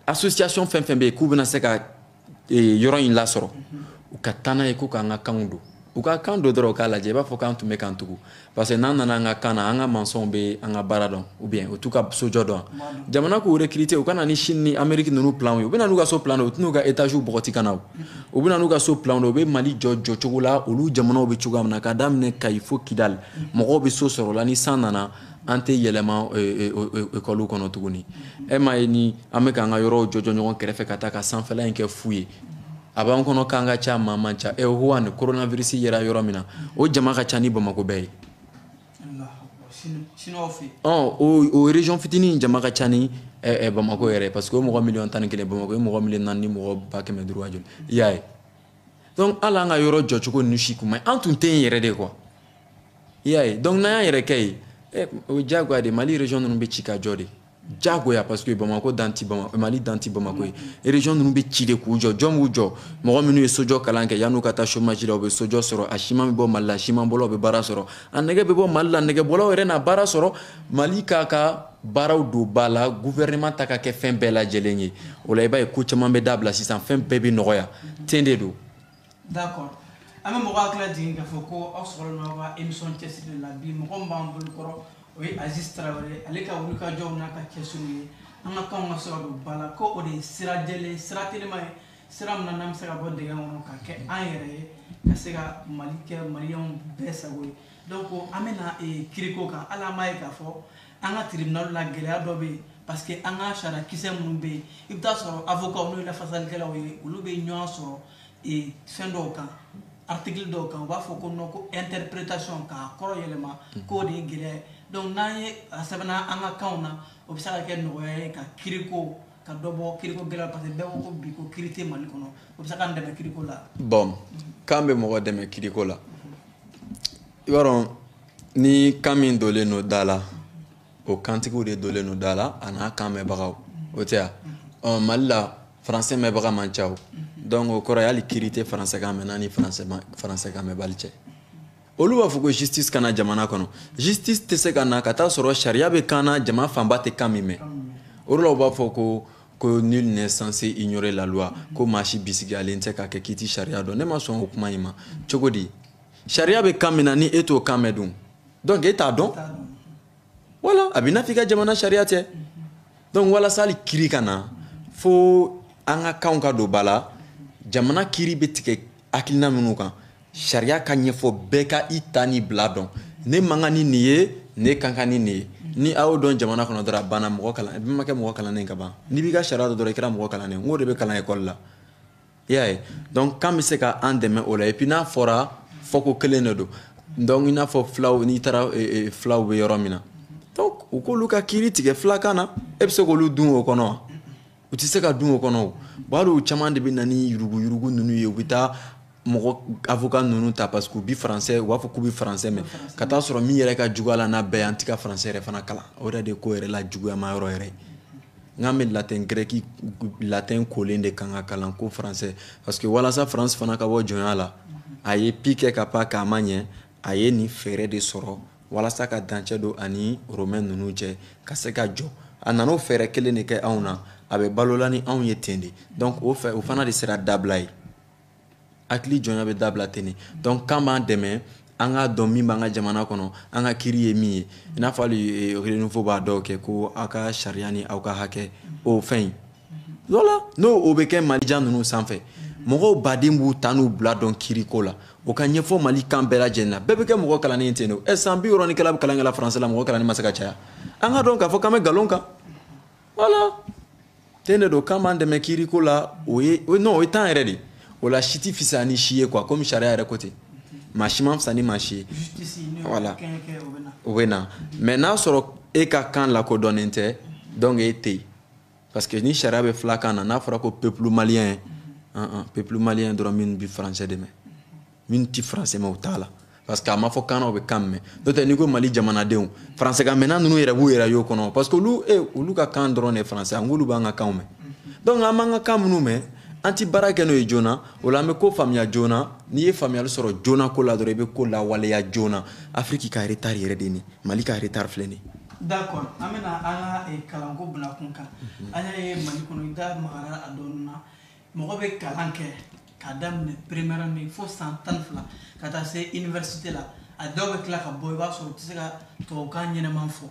association fɛn fɛn bɛ yen k'u bɛna se ka yɔrɔ in lasɔrɔ u ka taa n'a ye ko k'an ka kanw don u ka kan don dɔrɔn u k'a lajɛ i b'a fɔ k'an tun bɛ k'an tugu parce que n'an nana an ka kan na an ka maçonw bɛ an ka baara dɔn ou bien u t'u ka sojɔ dɔn jamana k'u recruter u ka na ni Chine ni Amérique ninnu plan ye u bɛ na n'u ka so plan de u tɛn'u ka étages bɔgɔti ka na o u bɛ na n'u ka so plan de u bɛ Mali jɔ jɔcogo la olu jamanaw bɛ cogoya min na k'a daminɛ Kayi fo Kidali mɔgɔw bɛ so sɔrɔ o la ni san nana an tɛ yɛlɛma ekɔliw kɔnɔ tuguni e m'a ye ni an bɛ k'an ka yɔrɔw jɔjɔ ɲɔgɔn kɛrɛfɛ ka taa ka sanfɛla in kɛ fu ye a b'an kɔnɔ k'an ka ca maa man ca e Wuhan koronavirisi yera yɔrɔ min na o jama ka ca ni bamakɔ bɛɛ ye o région fitinin jama ka ca ni bamakɔ yɛrɛ parce que o mɔgɔ miliyɔn tan ni kelen bamakɔ ye mɔgɔ miliyɔn naani ni mɔgɔ ba kɛmɛ duuru joli i y'a ye donc hali an ka yɔrɔ jɔcogo ninnu si kuma an tun tɛ yen yɛrɛ de quoi i y'a ye donc n'an y'an yɛrɛ kɛ ye eh, o ye diyagoya de mali région ninnu bɛ ci ka jɔ de diyagoya parce que bamakɔ dan tɛ bama mali dan tɛ bamakɔ ye mm-hmm. région ninnu bɛ ci de k'u jɔ jɔn b'u jɔ mɔgɔ minnu ye sojɔ kalan kɛ yan'u ka taa chômage la u bɛ sojɔ sɔrɔ a siman bɛ bɔ mali la siman bɔlaw bɛ baara sɔrɔ a nɛgɛ bɛ bɔ mali la nɛgɛbɔlaw yɛrɛ na baara sɔrɔ mali k'a ka baaraw don ba la gouvernement ta ka kɛ fɛn bɛɛ lajɛlen ye o la i b'a ye ko caman bɛ dabila sisan fɛn bɛɛ bɛ nɔgɔya ten de don d'accord an bɛ mɔgɔ hakili jigin k'a fɔ ko aw sɔrɔlen aw ka émission cɛsiri la bi mɔgɔ min b'an bolo kɔrɔ o ye Aziz Tarawele ale ka wulikajɔw n'a ka cɛsiriw ye an ka kanw ka se ka don ba la ko o de ye sira jɛlen sira telima ye sira min na n'an bɛ se ka bɔ dingɛ kɔnɔ ka kɛ an yɛrɛ ye ka se ka Mali kɛ maliyɛnw bɛɛ sago ye donc an bɛna kiriko kan hali an b'a ye k'a fɔ an ka tribunal la gɛlɛya dɔ bɛ yen parce que an ka sariya kisɛ minnu bɛ yen i bɛ taa sɔrɔ avocat n'o ye lafasalikɛlaw ye olu bɛ ɲɔgɔn sɔsɔ ee fɛn dɔw kan article dɔw kan u b'a fɔ ko non ko interprétation k'a kɔrɔ yɛlɛma mhm. k'o de ye gɛlɛya ye donc n'an ye a sɛbɛnna an ka kanw na o bɛ se ka kɛ nɔgɔya ye ka kiriko ka dɔ bɔ kiriko gɛlɛya parce que bɛɛ ko ko bi ko kiri tɛ mali kɔnɔ o bɛ se k'an dɛmɛ kiriko la. bon mhm. kan bɛ mɔgɔ dɛmɛ kiriko la. i b'a dɔn ni kan min dolen don da la o kantigiw de dolen don da la a n'a kan mɛnbagaw o tɛ ya ɔ mali la faransɛ mɛnbaga man ca o donc o kɔrɔ ye hali kiri tɛ faransɛkan mɛnna ni faransɛkan mɛnbali cɛ olu b'a fɔ ko justice ka na jamana kɔnɔ justice tɛ se ka na ka taa sɔrɔ sariya bɛ kan na jama fanba tɛ kan min mɛn o de la u b'a fɔ ko ko nul n'est censé ignorer la loi ko maa si bisigiyalen tɛ k'a kɛ k'i tɛ sariya dɔn ne ma sɔn o kuma in ma cogo di sariya bɛ kan min na ni e t'o kan mɛn dun donc e t'a dɔn voilà a bɛ n'a f'i ka jamana sariya tɛ donc walasa hali kiri ka na fo an ka kanw ka don ba la jamana kiri bɛ tigɛ hakilina minnu kan sariya ka ɲɛfɔ bɛɛ ka i ta ni bila dɔn ne man kan ni nin ye ne ka kan ni nin ye ni a y'o dɔn jamana kɔnɔ dɔrɔn a banna mɔgɔ kalan i ma kɛ mɔgɔ kalannen ka ban n'i b'i ka sariya dɔn dɔrɔn i kɛra mɔgɔ kalannen n k'o de bɛ kalan ekɔli la i y'a ye donc kan bɛ se ka an dɛmɛ o la et puis n'a fɔra fɔko kelen de don donc i n'a fɔ filaw n'i taara e, e, filaw bɛ yɔrɔ min na donc u k'olu ka kiiri tigɛ filakan na e bɛ se k'olu dun o kɔnɔ wa u tɛ se ka dun o kɔnɔ o bon hali u caman de bɛ na ni yuruguyurugu ninnu ye u bɛ taa mɔgɔ avocat ninnu ta parce que u bi français u b'a fɔ k'u bi français mɛn ka taa sɔrɔ min yɛrɛ ka jugu a la n'a bɛɛ ye an ti ka français yɛrɛ fana kalan o yɛrɛ de ye ko yɛrɛ la juguyama yɔrɔ yɛrɛ ye N'an bɛ latin grec latin kolen de kan ka kalan ko faransɛ parce que walasa faransi fana ka bɔ jɔnya la a ye pi kɛ ka pan k'a ma ɲɛ a ye nin fɛɛrɛ de sɔrɔ walasa ka dancɛ don a ni romain ninnu cɛ ka se ka jɔ a nana o fɛɛrɛ kelen de kɛ anw na a bɛ balola ni anw ye ten de donc o fɛ o fana de sera dabila ye hakili jɔnya bɛ dabila ten de donc kan b'an dɛmɛ an k'a dɔn min b'an ka jamana kɔnɔ an ka kiiri ye min ye i n'a fɔ hali renouveau b'a dɔw kɛ ko aw ka sariya ni aw ka hakɛ o fɛn in voilà n'o o bɛ kɛ malien ninnu sanfɛ mɔgɔw baden b'u ta n'u bila dɔn kiiriko la o ka ɲɛfɔ mali kan bɛɛ lajɛlen na bɛɛ bɛ kɛ mɔgɔ kalannen ten don ɛ san bi wɔɔrɔ ni kelen an bɛ kalan kɛla faransɛ la mɔgɔ kalannen ma se ka caya an k'a dɔn k'a fɔ k'an bɛ nkalon kan voilà ten de don kan b'an dɛmɛ kiiriko la o ye non o ye tan yɛrɛ de o la si tɛ fisaya ni si ye quoi comme sariya yɛrɛ ko ten maa si man fisa ni maa si ye voilà o bɛ na mais n'a sɔrɔ e ka kan lakodɔnnen tɛ donc e tɛ yen parce que ni sariya bɛ filakan na n'a fɔra ko peuple malien peuple malien dɔrɔn min bɛ français de mɛn min tɛ faransɛ mɛn u t'a la parce que a ma fɔ kan na u bɛ kan mɛn n'o tɛ n'i ko mali jamanadenw faransɛkan mɛnna ninnu yɛrɛ b'u yɛrɛ y'o kɔnɔ parce que olu e olu ka kan dɔrɔn de ye faransɛ nk'olu b'an ka kanw mɛn donc an b'an ka kan minnu mɛn an ti baara kɛ n'o ye joona o la an bɛ ko faamuya joona n'i ye faamuyali sɔrɔ joona ko la dɔrɔn i bɛ ko lawaleya joona afiriki ka retard yɛrɛ de ni mali ka retard filɛ nin ye d'accord an bɛna an ka eh, kalanko bila kun kan an y'a ye mali kɔnɔ i da magara a dɔɔni na mɔgɔ bɛ kalan kɛ k'a daminɛ première année fo san tan fila ka taa se université la a dɔw bɛ tila ka bɔ i b'a sɔrɔ u tɛ se ka tubabukan ɲɛnaman fɔ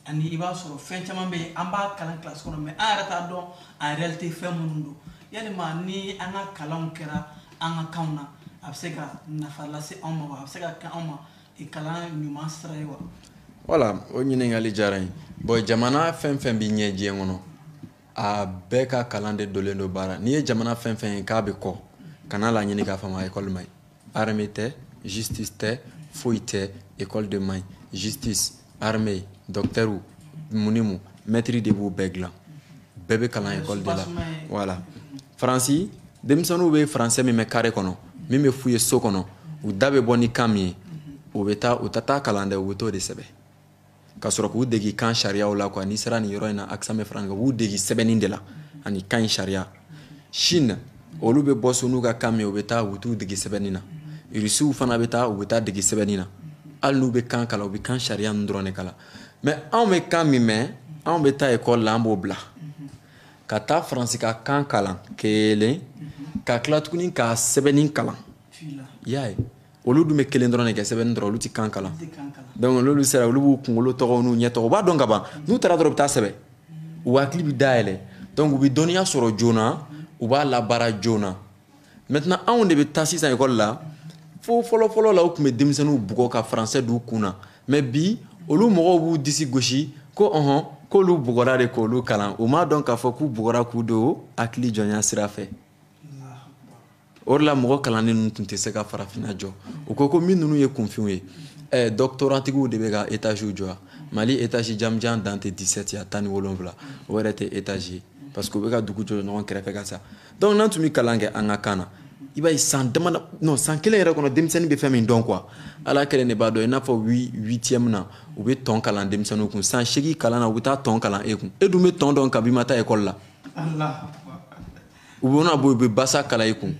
ani i b'a sɔrɔ fɛn caman bɛ yen an b'a kalan kilasi kɔnɔ mais an yɛrɛ t'a dɔn en réalité fɛn minnu don yalima ni an ka kalanw kɛra an ka kanw na a bɛ se ka nafa lase anw ma wa a bɛ se ka kɛ anw ma kalan ɲuman sira ye wa voilà o ɲininkali diyara n ye bon jamana fɛn fɛn bɛ ɲɛ diɲɛ kɔnɔ a bɛɛ ka kalan de dolen don baara n'i ye jamana fɛn fɛn ye k'a bɛ kɔ kana la ɲini k'a faamu ekɔli man ɲi armée tɛ justice tɛ foyi tɛ ekɔli de man ɲi justice armée docteur mun ni mun mɛtiri de b'u bɛɛ dilan bɛɛ bɛ kalan ekɔli de la voilà faransi denmisɛnninw bɛ faransɛ min mɛn kare kɔnɔ min bɛ f'u ye so kɔnɔ u da bɛ bɔ ni kan min ye o bɛ taa u tɛ taa kalan dɛ u bɛ t'o de sɛbɛn ka sɔrɔ k'u degi kan sariyaw la quoi n'i sera nin yɔrɔ in na akisame faranka b'u degi sɛbɛnni de la ani kan in sariya chine olu bɛ bɔ so n'u ka kan min u bɛ taa u t'u degi sɛbɛnni na irisiw fana bɛ taa u bɛ taa degi sɛbɛnni na hali n'u bɛ kan kalan u bɛ kan sariya ninnu dɔrɔn de kalan mais anw bɛ kan min mɛn anw bɛ taa ekɔli la an b'o bila ka taa faransi ka kan kalan kelen ka tila tuguni ka sɛbɛnni kalan i y'a ye olu dun bɛ kelen dɔrɔn de kɛ sɛbɛnni dɔrɔn olu tɛ kan kalan donc n'olu sera olu b'u kunkolo tɔgɔw n'u ɲɛ tɔgɔ u b'a dɔn ka ban n'u taara dɔrɔn u bɛ taa sɛbɛn u hakili bɛ dayɛlɛ donc u bɛ dɔnniya sɔrɔ joona u b'a labaara joona maintenant anw de bɛ taa sisan ekɔli la fo fɔlɔfɔlɔ la u tun bɛ denmisɛnninw bugɔ ka français d'u kun na mais bi olu mɔgɔw b'u disi gosi ko ɔhɔn k'olu bugɔra de k'olu kalan u m'a dɔn k'a fɔ k'u bugɔra k'u don hakili jɔnya sira fɛ o de la mɔgɔ kalannen ninnu tun tɛ se ka farafinna jɔ u ko ko min ninnu ye kunfinw ye eh, dɔktoratigiw de bɛ ka etaziw jɔ mali etazi jamanjan dan tɛ 17 ye a tan ni wolonwula o yɛrɛ tɛ etazi ye parce que u bɛ ka dugu jɔ ɲɔgɔn kɛrɛfɛ ka sa donc n'an tun bɛ kalan kɛ an ka kan na i b'a ye san dama non san kelen yɛrɛ kɔnɔ denmisɛnnin bɛ fɛn min dɔn quoi ala kelen de b'a dɔn i n'a fɔ huitième na u bɛ tɔn kalan denmisɛnninw kun san seegin kalan na u bɛ taa tɔn kalan e kun e dun bɛ tɔn dɔn kabi i ma taa ekɔli la. u bɛna bɔ u bɛ basa kalan i kun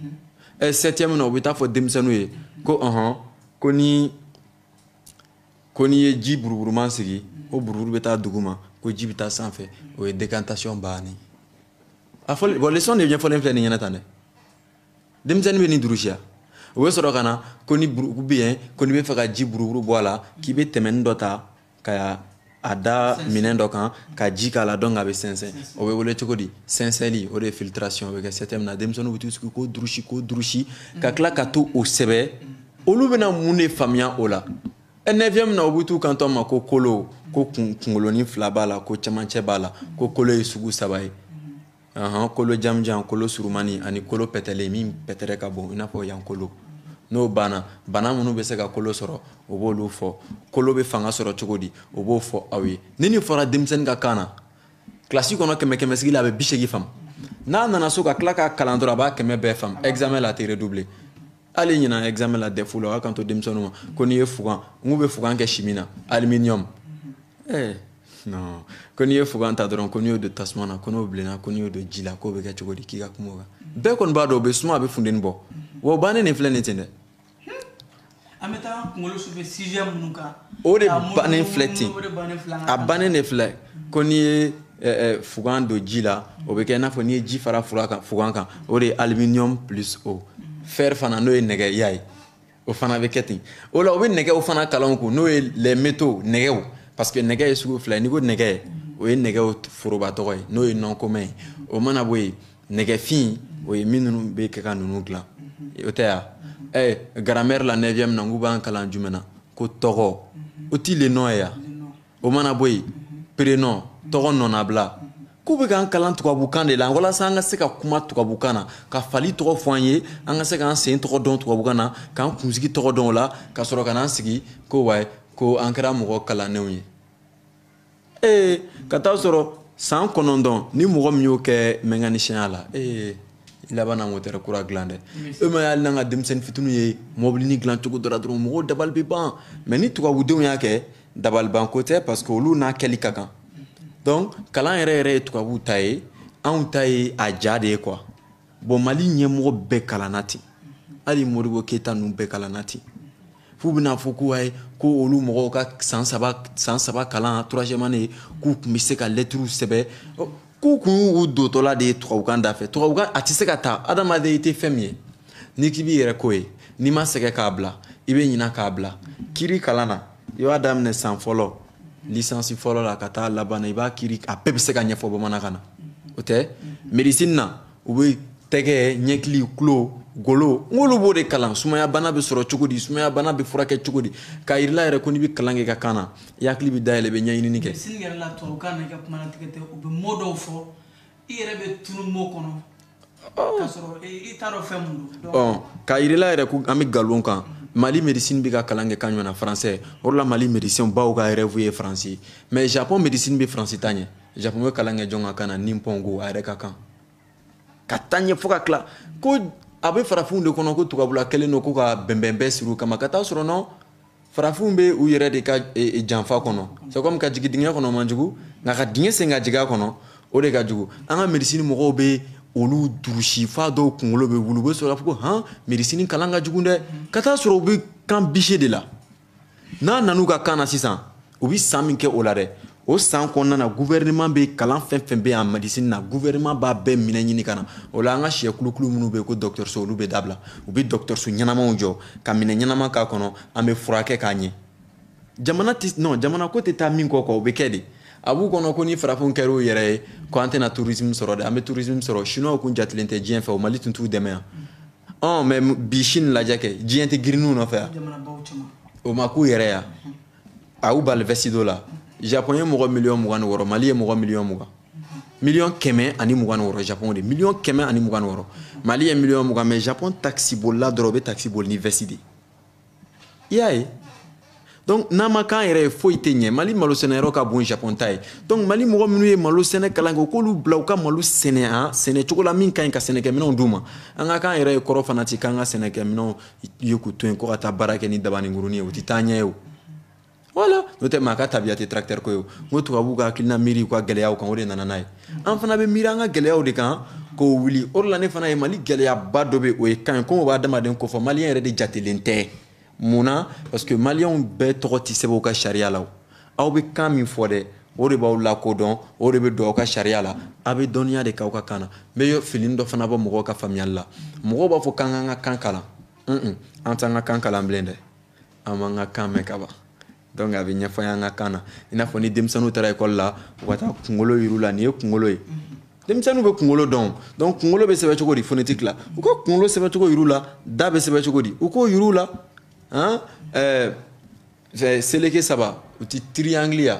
ɛ septième na u bɛ taa fɔ denmisɛnninw ye ko ɔhɔn ko ni ko n'i ye ji buruburuman sigi o buruburu bɛ taa duguma ko ji bɛ taa sanfɛ o ye décantation bannen a fɔli bon leçon de ɲɛfɔlen filɛ nin ɲɛna tan dɛ denmisɛnnin bɛ nin durusiya o bɛ sɔrɔ ka na ko ni buruburu bɛ yen ko n'i bɛ fɛ ka ji buruburu bɔ a la k'i bɛ tɛmɛnin dɔ ta ka a da minɛn dɔ kan ka ji k'a la donc a bɛ sɛnsɛn o bɛ wele cogo di sɛnsɛnli o de ye filtration o bɛ kɛ septième na denmisɛnninw bɛ t'u sigi k'o durusi k'o durusi ka tila ka t'o sɛbɛn olu bɛna mun de faamuya o la neuvième na u bɛ t'u kanto ma ko kolo ko kunkolonin fila b'a la ko camancɛ b'a la ko kolo ye sugu saba ye Aɔn kolo jamanjan kolo surumani ani kolo pɛtɛlen min pɛtɛrɛ ka bon i n'a fɔ yan kolo n'o banna bana minnu bɛ se ka kolo sɔrɔ o b'olu fɔ kolo bɛ fanga sɔrɔ cogo di o b'o fɔ aw ye ni nin fɔra denmisɛnnin ka kan na kilasi kɔnɔ kɛmɛ kɛmɛsigi la a bɛ bisegin faamu n'a nana so ka tila ka kalan dɔrɔn a b'a kɛmɛ bɛɛ faamu examen la a tɛ redoubler hali ɲinan examen la DEF la o y'a kanto denmisɛnninw ma ko n'i ye fugan n k'u bɛ fugan kɛ chimie na aluminium ɛɛ eh, non ko n'i ye fugan ta dɔrɔn ko n'i y'o don tasuma na ko n'o bilenna ko n'i y'o don ji la k'o bɛ kɛ cogo di k'i ka kuma o kan bɛɛ kɔni b'a dɔn o bɛ suma a bɛ funteni bɔ wa o bannen de filɛ nin ten dɛ an bɛ taa kunkolo sufɛ sujet minnu kan o de bannen filɛ ten a bannen de filɛ ko n'i ye fugan don ji la o bɛ kɛ i n'a fɔ n'i ye ji fara fugan kan o de ye aluminium plus eau fer fana n'o ye nɛgɛ i y'a ye o fana bɛ kɛ ten o la u bɛ nɛgɛw fana kalan kun n'o ye les métaux nɛgɛw parce que nɛgɛ ye sugu fila ye n'i ko nɛgɛ o ye nɛgɛw foroba tɔgɔ ye n'o ye nom commun ye o mana bɔ yen nɛgɛfin o ye minnu bɛ kɛ ka ninnu dilan o tɛ ya ɛ grammaire la neuvième na n k'u b'an kalan jumɛn na ko tɔgɔ o tɛ le nom ye ya o mana bɔ yen pronom tɔgɔnɔnabila k'u bɛ k'an kalan tubabukan de la walasa an ka se ka kuma tubabukan na ka fali tɔgɔ fɔ an ye an ka se k'an sen tɔgɔ dɔn tubabukan na k'an kunsigi tɔgɔ dɔn o la ka sɔrɔ ka n'an sigi ko ayi ko an kɛra mɔgɔ kalannenw ye ee ka taa sɔrɔ san kɔnɔntɔn ni mɔgɔ min y'o kɛ mécanicienya la ee i laban na motɛrɛ kura dilan dɛ e m'a y'ali n'an ka denmisɛnnin fitininw ye mɔbilinin dilan cogo dɔ la dɔrɔn mɔgɔw dabali bɛ ban mais ni tubabudenw y'a kɛ dabalibanko tɛ parce que olu n'a kɛli ka kan donc kalan yɛrɛ yɛrɛ ye tubabuw ta ye anw ta ye a ja de ye quoi bon mali ɲɛmɔgɔ bɛɛ kalanna ten hali modibo keyita ninnu bɛɛ kalanna ten f'u bɛn'a fɔ ko ayi ko olu mɔgɔw ka san saba kalan troisième année k'u tun bɛ se ka lɛtiriw sɛbɛn k'u kun y'u dotɔla de ye tubabukan da fɛ tubabukan a tɛ se ka taa adamaden i tɛ fɛn min ye n'i k'i b'i yɛrɛ k'o ye n'i ma sɛgɛn k'a bila i bɛ ɲina k'a bila kiri kalan na i b'a daminɛ san fɔlɔ lisansi fɔlɔ la ka taa laban na i b'a kiri a bɛɛ bɛ se ka ɲɛfɔ bamanankan na o tɛ médecine na u bɛ tɛgɛ ɲɛkili tulo golo n k'olu b'o de kalan sumayabana bɛ sɔrɔ cogo di sumayabana bɛ furakɛ cogo di k'a yir'i la yɛrɛ ko n'i bɛ kalan kɛ i ka kan na i hakili bɛ dayɛlɛ i bɛ ɲɛɲini kɛ médecine yɛrɛ la tubabukan na i ka kuma latigɛ tɛ u bɛ mot dɔw fɔ i yɛrɛ bɛ tunu mot kɔnɔ k'a sɔrɔ i t'a dɔn fɛn mun don ɔ k'a yir'i la yɛrɛ ko an bɛ nkalon kan mali médecine bɛ ka kalan kɛ kan jumɛn na français o de la mali médecin baw ka rêve ye france ye mais japon médecine bɛ france ta ɲɛ Japon bɛ kalan kɛ jɔn ka kan na nipongo a yɛrɛ ka kan ka taa ɲɛ fo ka tila ko a bɛ farafinw de kɔnɔ ko tubabula kɛlen don ko ka bɛnbɛn bɛɛ siri u kama ka taa sɔrɔ non farafinw bɛ u yɛrɛ de ka janfa kɔnɔ c'est comme ka jigin dingɛ kɔnɔ man jugu nka ka dingɛ sen ka jigin a kɔnɔ o de ka jugu an ka médecine mɔgɔw bɛ olu durusi f'a dɔw kunkolo bɛ wuli u bɛ sɔrɔ k'a fɔ ko hɔn médecine kalan ka jugu dɛ ka taa sɔrɔ u bɛ kan bisi de la n'a nan'u ka kan na sisan u bɛ san min kɛ o la dɛ o san kɔnɔna na gouvernement bɛ kalan fɛn o fɛn bɛ yan médecine na gouvernement b'a bɛɛ minɛn ɲini ka na o la an ka sɛkulukulu minnu bɛ yen ko dɔgɔtɔrɔso olu bɛ dabila u bɛ dɔgɔtɔrɔso ɲɛnamaw jɔ ka minɛn ɲɛnama k'a kɔnɔ an bɛ furakɛ k'a ɲɛ jamana tɛ non jamana ko tɛ taa min kɔ kɔ o bɛ kɛ de a b'u kɔnɔ ko ni farafinw kɛra u yɛrɛ ye ko an tɛna tourisme sɔrɔ dɛ an bɛ tourisme sɔrɔ chinois kun jatilen tɛ diɲɛ fɛ o mali tun t'u dɛmɛ yan ɔn mais bi sini lajɛ kɛ diɲɛ tɛ girin u nɔfɛ yan o ma k'u yɛrɛ ya a y'u bali vɛsi don la japɔn ye mɔgɔ miliyɔn mugan ni wɔɔrɔ mali ye mɔgɔ miliyɔn mugan miliyɔn kɛmɛ ani mugan ni wɔɔrɔ japɔn de miliyɔn kɛmɛ ani mugan ni wɔɔrɔ mali ye miliyɔn mugan mais japɔn takisibolila dɔrɔn o bɛ takisi boli ni vɛsi de ye i y'a ye donc n'an ma k'an yɛrɛ ye foyi tɛ ɲɛ mali malo sɛnɛyɔrɔ ka bon japon ta ye donc mali mɔgɔ minnu ye malo sɛnɛ kalan kɛ u k'olu bila u ka malo sɛnɛ a sɛnɛ cogo la min ka ɲi ka sɛnɛkɛminɛnw d'u ma an ka k'an yɛrɛ ye kɔrɔ fana tɛ k'an ka sɛnɛkɛminɛnw ye k'u to yen ko ka taa baara kɛ ni dabanin kurunin ye o tɛ taaɲɛ ye o voilà n'o tɛ maa ka tabiya tɛ tracteur ko ye o n ko tubabuw ka hakilina miiri u ka gɛlɛyaw kan o de nana n'a ye an fana bɛ miiri an ka gɛlɛyaw de kan k'o wuli o de la ne fana ye mali gɛlɛyaba dɔ bɛ o ye kan ye komi o b'a adamaden kofɔ maliyɛn yɛrɛ de jatelen tɛ mun na parce que maliyɛnw bɛɛ tɔgɔ tɛ sɛbɛn u ka sariya la aw bɛ kan min fɔ dɛ o de b'aw lakodɔn o de bɛ don aw ka sariya la a bɛ dɔnniya de k'aw ka kan na n bɛ filini dɔ fana bɔ mɔgɔw ka faamuyali la mɔgɔw b'a fɔ k'an k'an ka kan kalan an t'an ka kan kalan bilen dɛ an b'an ka kan mɛn ka ban donc a bɛ ɲɛfɔ an ka kan na i n'a fɔ ni denmisɛnninw taara ekɔli la u ka taa kunkolo yir'u la nin ye kunkolo ye denmisɛnninw bɛ kunkolo dɔn donc kunkolo bɛ sɛbɛn cogo di phonétique la u ka kunkolo sɛbɛn cogo yir'u la da bɛ sɛbɛn cogo di u k'o yir'u la han ɛɛ seleke saba o ti triangle ya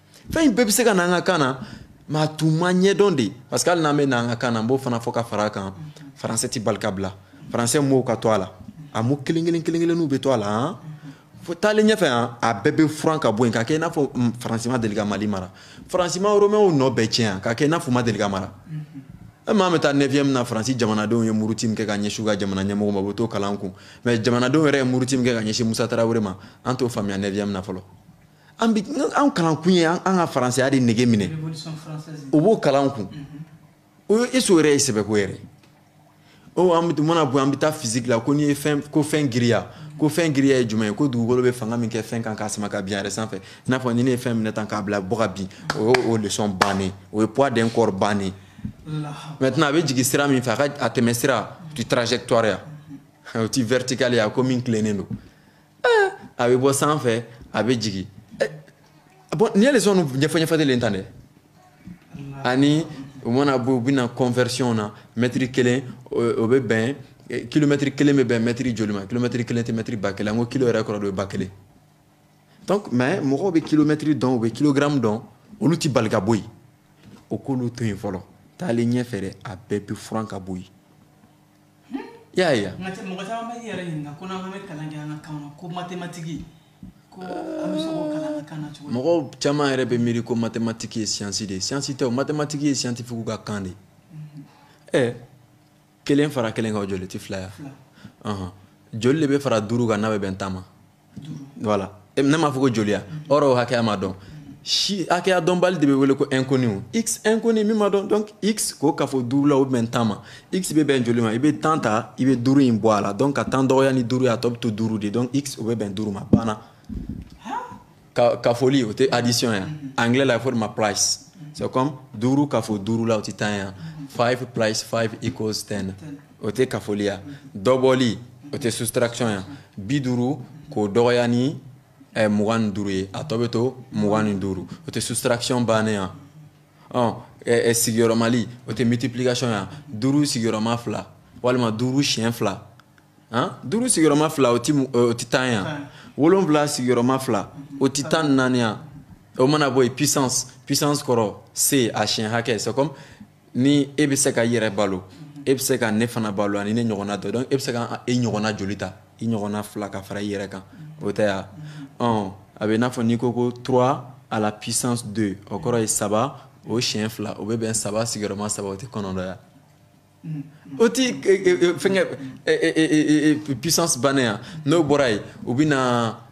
fɛn in bɛɛ bɛ se ka na an ka kan na mais a tun ma ɲɛdɔn de parce que hali n'an bɛ na an ka kan na n b'o fana fɔ ka fara a kan faransɛ tɛ bali ka bila faransɛ mots ka to a la a mots kelen kelen kelen kelenninw bɛ to a la han fo taalen ɲɛfɛ han a bɛɛ bɛ furan ka bɔ yen ka kɛ i n'a fɔ faransi ma deli ka mali mara faransi ma romɛnw nɔ bɛɛ tiɲɛ yan ka kɛ i n'a fɔ u ma deli ka mara e maa bɛ taa neuvième na faransi jamanadenw ye muruti min kɛ ka ɲɛsin u ka jamana ɲɛmɔgɔ ma u bɛ t'o kalan kun mais jamanadenw yɛrɛ ye muruti min kɛ ka ɲɛsin musa tarawele ma an t'o faamuya neuvième na fɔlɔ an bi an kalankun ye an ka faransɛya de nege minɛ o b'o kalan kun o mhm. ye eso yɛrɛ ye sɛbɛko yɛrɛ o an bɛ mana bɔ an bɛ taa physique la ko n'i ye fɛn ko fɛn giriya mhm. ko fɛn giriya ye jumɛn ye ko dugukolo bɛ fanga min kɛ fɛn kan k'a sama ka bin a yɛrɛ sanfɛ i n'a fɔ ni ne ye fɛn minɛ tan k'a bila bɔ ka bin o ye o leçon bannen o ye poids d'un corps bannen maintenant a bɛ jigin sira min fɛ a ka a tɛmɛ sira ti trajectoire ya mhm. o ti vertical ya ko min tilennen don eh, a bɛ bɔ sanfɛ a bɛ jigin eh, bon nin ye leçon ɲɛfɔ ɲɛfɔlen tan dɛ ani u mana bɔ u bɛ na conversion na mɛtiri kelen o bɛ bɛn kilomɛtiri kelen bɛ bɛn mɛtiri joli ma kilomɛtiri kelen tɛ mɛtiri ba kelen an ko kilo yɛrɛ kɔrɔ de ye ba kelen donc mais mɔgɔw bɛ kilomɛtiri dɔn u bɛ kilogramme dɔn olu tɛ bali ka bɔ yen o k'olu to yen fɔlɔ taalen ɲɛfɛ dɛ a bɛɛ bɛ furan ka bɔ yen y'a ye nka cɛ mɔgɔ caman bɛ yɛrɛ ɲininka ko n'an bɛ kalan kɛ an ka kan na ko matematiki ko an bɛ se k'o kalan an ka kan na cogo di mɔgɔw caman yɛrɛ bɛ miiri ko matematiki ye siyansi de ye siyansi tɛ o matematiki ye siyantifigiw ka kan de ye ɛ mhm. eh, kelen fara kelen kan o joli tɛ fila ya joli de bɛ fara duuru kan n'a bɛ bɛn tan ma voilà eh, ne m'a fɔ ko joli ya ɔrɔ o hakɛya ma dɔn si hakɛya dɔnbali de bɛ wele ko inconnu x inconnu min ma dɔn donc x k'o kafo duuru la o bɛn tan ma x bɛ bɛn joli ma i bɛ tan ta i bɛ duuru in bɔ a la donc ka tan dɔgɔya ni duuru ye a tɔ bɛ to duuru de donc x o bɛ bɛn duuru ma banna kafoli o tɛ addition ya anglais la a fɔ de ma plus c'est comme duuru kafo duuru la o tɛ tan ya five plus five equals ten. o tɛ kafoli ya dɔbɔli o tɛ soustraction ya bi duuru k'o dɔgɔya ni ɛ mugan ni duuru ye a tɔ bɛ to mugan ni duuru o tɛ soustraction bannen ya ɔ sigiyɔrɔmali o tɛ multiplication ya duuru sigiyɔrɔma fila walima duuru siɲɛ fila duuru sigiyɔrɔma fila o tɛ tan ya wolonwula sigiyɔrɔma fila o tɛ tan ni naani ya o mana bɔ yen puissance puissance kɔrɔ c'est a siɲɛ hakɛ c'est ni e bɛ se ka i yɛrɛ balo e bɛ se ka ne fana balo ani ne ɲɔgɔnna dɔ donc e bɛ se ka e ɲɔgɔnna joli ta i ɲɔgɔnna fila ka fara i yɛrɛ kan o tɛ ya ɔ a b'i n'a fɔ n'i ko ko trois à la puissance deux o kɔrɔ ye saba o siɲɛ fila o bɛ bɛn saba sigiyɔrɔma saba o tɛ kɔnɔntɔn ya o tɛ fɛnkɛ puissance bannen ya n'o bɔra yen u bɛ na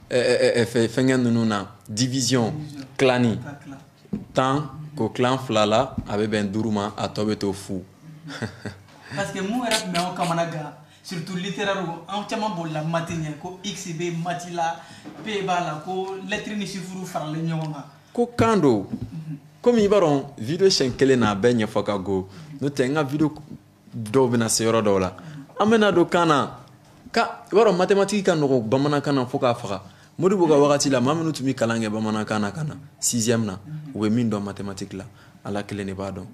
fɛnkɛ ninnu na division tilani tan k'o tilan fila la a bɛ bɛn duuru ma a tɔ bɛ to fu parce que mun yɛrɛ tun bɛ anw kamanagan surtout littéraire anw caman bolila mati ɲɛ ko x bɛ mati la p b'a la ko lettre ni chiffre faralen ɲɔgɔn kan ko kan don komi i b'a dɔn video siɲɛ kelen na a bɛɛ ɲɛfɔ ka go n'o tɛ n ka video dɔw bɛna se yɔrɔ dɔw la an bɛna don kan na ka i b'a dɔn matematiki ka nɔgɔ bamanankan na fo k'a faga modibo ka wagati la maa minnu tun bɛ kalan kɛ bamanankan na ka na sixième na u bɛ min dɔn matematiki la ala kelen de b'a dɔn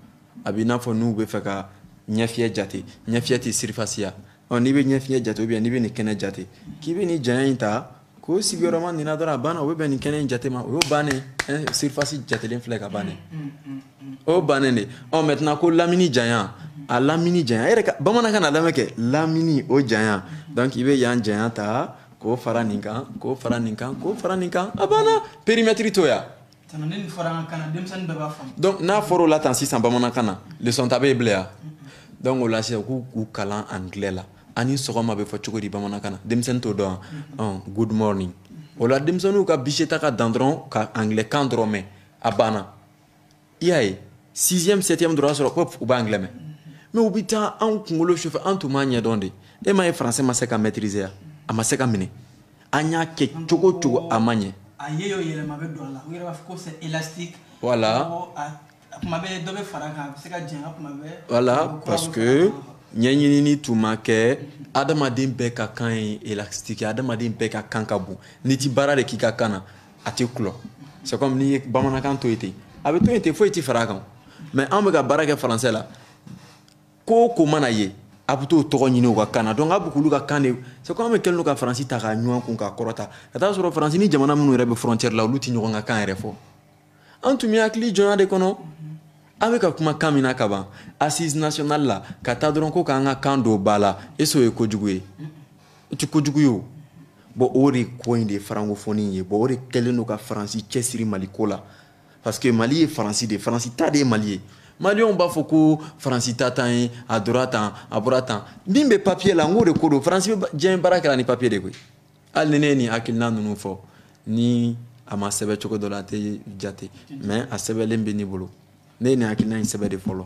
a b'i n'a fɔ n'u bɛ fɛ ka ɲɛfiyɛ jate ɲɛfiyɛ tɛ surface ya ɔ n'i bɛ ɲɛfiyɛ jate ou bien n'i bɛ nin kɛnɛ jate k'i bɛ nin janya in ta k'o sigiyɔrɔma nin na dɔrɔn a banna o bɛ bɛn nin kɛnɛ in jate ma o y'o bannen surface jatelen filɛ ka bannen o y'o bannen de ɔ maintenant ko lamini janya a lamini janya e yɛrɛ ka bamanankan na lamɛn kɛ lamini o janya donc i bɛ yan janya ta k'o fara nin kan k'o fara nin kan k'o fara nin kan a banna périmètre t'o ya donc n'a fɔra o la tan sisan bamanankan na leçon ta bɛ bila yan donc o la sisan k'u k'u kalan anglais la a ni sɔgɔma bɛ fɔ cogo di bamanankan na denmisɛnnin t'o dɔn yan good morning o la denmisɛnninw ka bise ta ka dan dɔrɔn ka anglais kan dɔrɔn mɛn a banna i y'a ye sixième septième dɔrɔn sɔrɔ ko u bɛ anglais mɛn mais u bɛ taa anw kunkolo sufɛ an tun b'a ɲɛdɔn de e m'a ye français ma se ka maîtriser ya a ma se ka minɛ an y'a kɛ cogo o cogo a ma ɲɛ a ye o yɛlɛma bɛ don a la u yɛrɛ b'a fɔ ko c'est élastique voilà kuma bɛɛ dɔ bɛ fara a kan a bɛ se ka janya kuma bɛɛ voilà parce que ɲɛɲinini tun ma kɛ adamaden bɛɛ ka kan ye élastique ye adamaden bɛɛ ka kan ka bon n'i ti baara de k'i ka kan na a tɛ kulɔ c'est comme n'i ye bamanankan to yen ten a bɛ to yen ten foyi tɛ fara a kan mais an bɛ ka baara kɛ français la ko o ko mana ye a bɛ t'o tɔgɔ ɲini u ka kan na donc a bɛ k'olu ka kan de c'est comme an bɛɛ kɛlen don ka faransi ta k'a ɲun an kun k'a kɔrɔta ka t'a sɔrɔ faransi ni jamana minnu yɛrɛ bɛ frontière la olu tɛ ɲɔgɔn ka kan yɛrɛ fɔ an tun bɛ hakili jɔnya de kɔnɔ an bɛ ka kuma kan min na ka ban assise nationale la ka taa dɔrɔn ko k'an ka kan don ba la est ce que o ye kojugu ye o tɛ kojugu ye o bon o de ko in de ye francophonie ye bon o de kɛlen don ka faransi cɛsiri mali ko la parce que mali ye faransi de ye faransi ta de ye mali ye maliyɛnw b'a fɔ ko faransi ta tan ye a dora tan a bɔra tan min bɛ papiye la n k'o de ko don faransi bɛ diɲɛ baara kɛra ni papiye de koyi hali ni ne ye nin hakilina ninnu fɔ ni a ma sɛbɛ cogo dɔ la a tɛ jate mais a sɛbɛlen bɛ ne bolo ne ye nin hakilina in sɛbɛ de fɔlɔ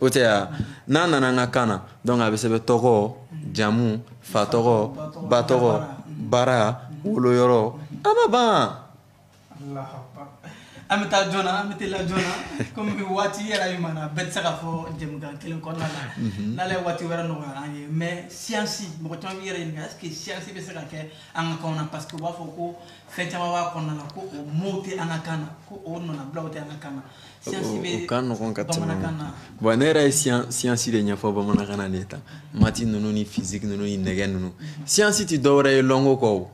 o tɛ ya n'a nana an ka kan na donc a bɛ sɛbɛn tɔgɔ jamu fa tɔgɔ ba tɔgɔ baara woloyɔrɔ a ma ban an bɛ taa joona an bɛ teliya joona komi bi waati yɛrɛ ye maana bɛɛ tɛ se ka fɔ jɛmukan kelen kɔnɔna la mhm. n'ala ye waati wɛrɛ nɔgɔyara an ye mais siyansi mɔgɔ caman b'i yɛrɛ ɲininka est ce que siyansi bɛ se ka kɛ an ka kanw na parce que u b'a fɔ ko fɛn caman b'a kɔnɔna la ko o mots tɛ an ka kan na ko o nɔnabilaw tɛ an ka kan na u ka nɔgɔn ka tɛmɛ bon ne yɛrɛ ye siyansi de ɲɛfɔ bamanankan na de ta mati ninnu ni fisiki ninnu ni nɛgɛ ninnu siyansi tɛ dɔwɛrɛ ye lɔnko kɔ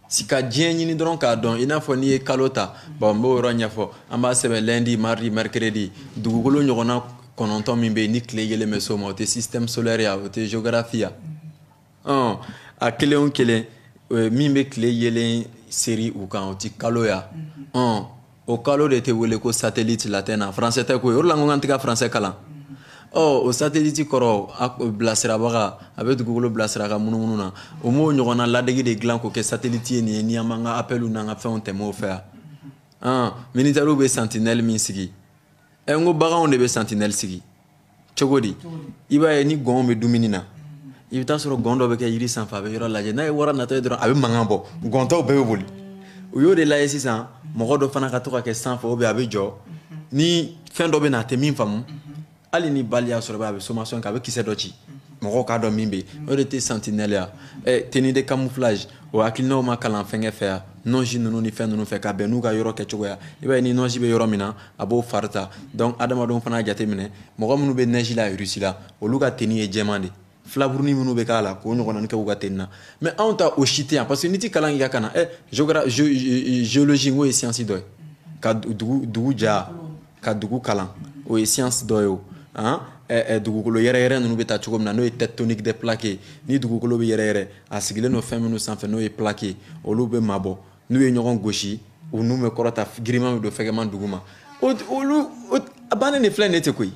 c'est ka diɲɛ ɲini dɔrɔn k'a dɔn i n'a fɔ n'i ye kalo ta bon n b'o yɔrɔ ɲɛfɔ an b'a sɛbɛn lundi mardi mercredi dugukolo ɲɔgɔnna kɔnɔntɔn min bɛ yen ni tile yeelen bɛ s'o ma o tɛ système solaire ya o tɛ géographie ya ɔn a kelen o kelen eh, min bɛ tile yeelen seri u kan o ti kalo ya ɔn o kalo de tɛ wele ko satellite latin na français tɛ koyi o de la n ko k'an tɛ ka français kalan ɔ o satellite kɔrɔ a bilasirabaga a bɛ dugukolo bilasira ka munumunu na o m'o ɲɔgɔnna ladege de dilan k'o kɛ satellite ye min ye ni an b'an ka appelw n'an ka fɛnw tɛmɛ o fɛ yan ɔn militaires bɛ sentinelle min sigi ɛ n ko baganw de bɛ sentinelle sigi cogo di i b'a ye ni gɔnw bɛ dumuni na i bɛ t'a sɔrɔ gɔn dɔ bɛ kɛ yiri sanfɛ a bɛ yɔrɔ lajɛ n'a ye wara natɔ ye dɔrɔn a bɛ mankan bɔ gɔn tɔw bɛɛ bɛ boli u y'o de lajɛ sisan mɔgɔ dɔ fana ka to ka kɛ sanfɛ ou bien a bɛ jɔ ni fɛn dɔ bɛ na a tɛ min faamu hali ni balle y'a sɔrɔ a bɛ sommation kɛ a bɛ kisɛ dɔ ci mɔgɔw k'a dɔn min bɛ yen o de tɛ sentinelle ya eh, tenue de camouflage o hakilinaw ma kalan fɛnkɛ fɛ yan nɔnsi ninnu ni fɛn ninnu fɛ ka bɛn n'u ka yɔrɔ kɛcogoya i b'a ye ni nɔnsi bɛ yɔrɔ min na a b'o fari ta donc adamadenw fana y'a jateminɛ mɔgɔ minnu bɛ neige la Russie la olu ka tenue ye jɛman de filaburunin minnu bɛ k'a la k'o ɲɔgɔnna kɛ u ka tenue na mais anw ta o si tɛ yan parce que n'i tɛ kalan k'i ka kan na ɛ géologie n'o ye siyansi dɔ ye ka dugu ja ka dugu kalan o ye siyansi dɔ ye o dugukolo yɛrɛyɛrɛ ninnu bɛ taa cogo min na n'o ye tectonique des plaques ye ni dugukolo bɛ yɛrɛyɛrɛ a sigilen don fɛn minnu sanfɛ n'o ye plaque ye olu bɛ mabɔ n'u ye ɲɔgɔn gosi u n'u bɛ kɔrɔta giriman bɛ don fɛgɛman duguma olu a bannen de filɛ ne tɛ koyi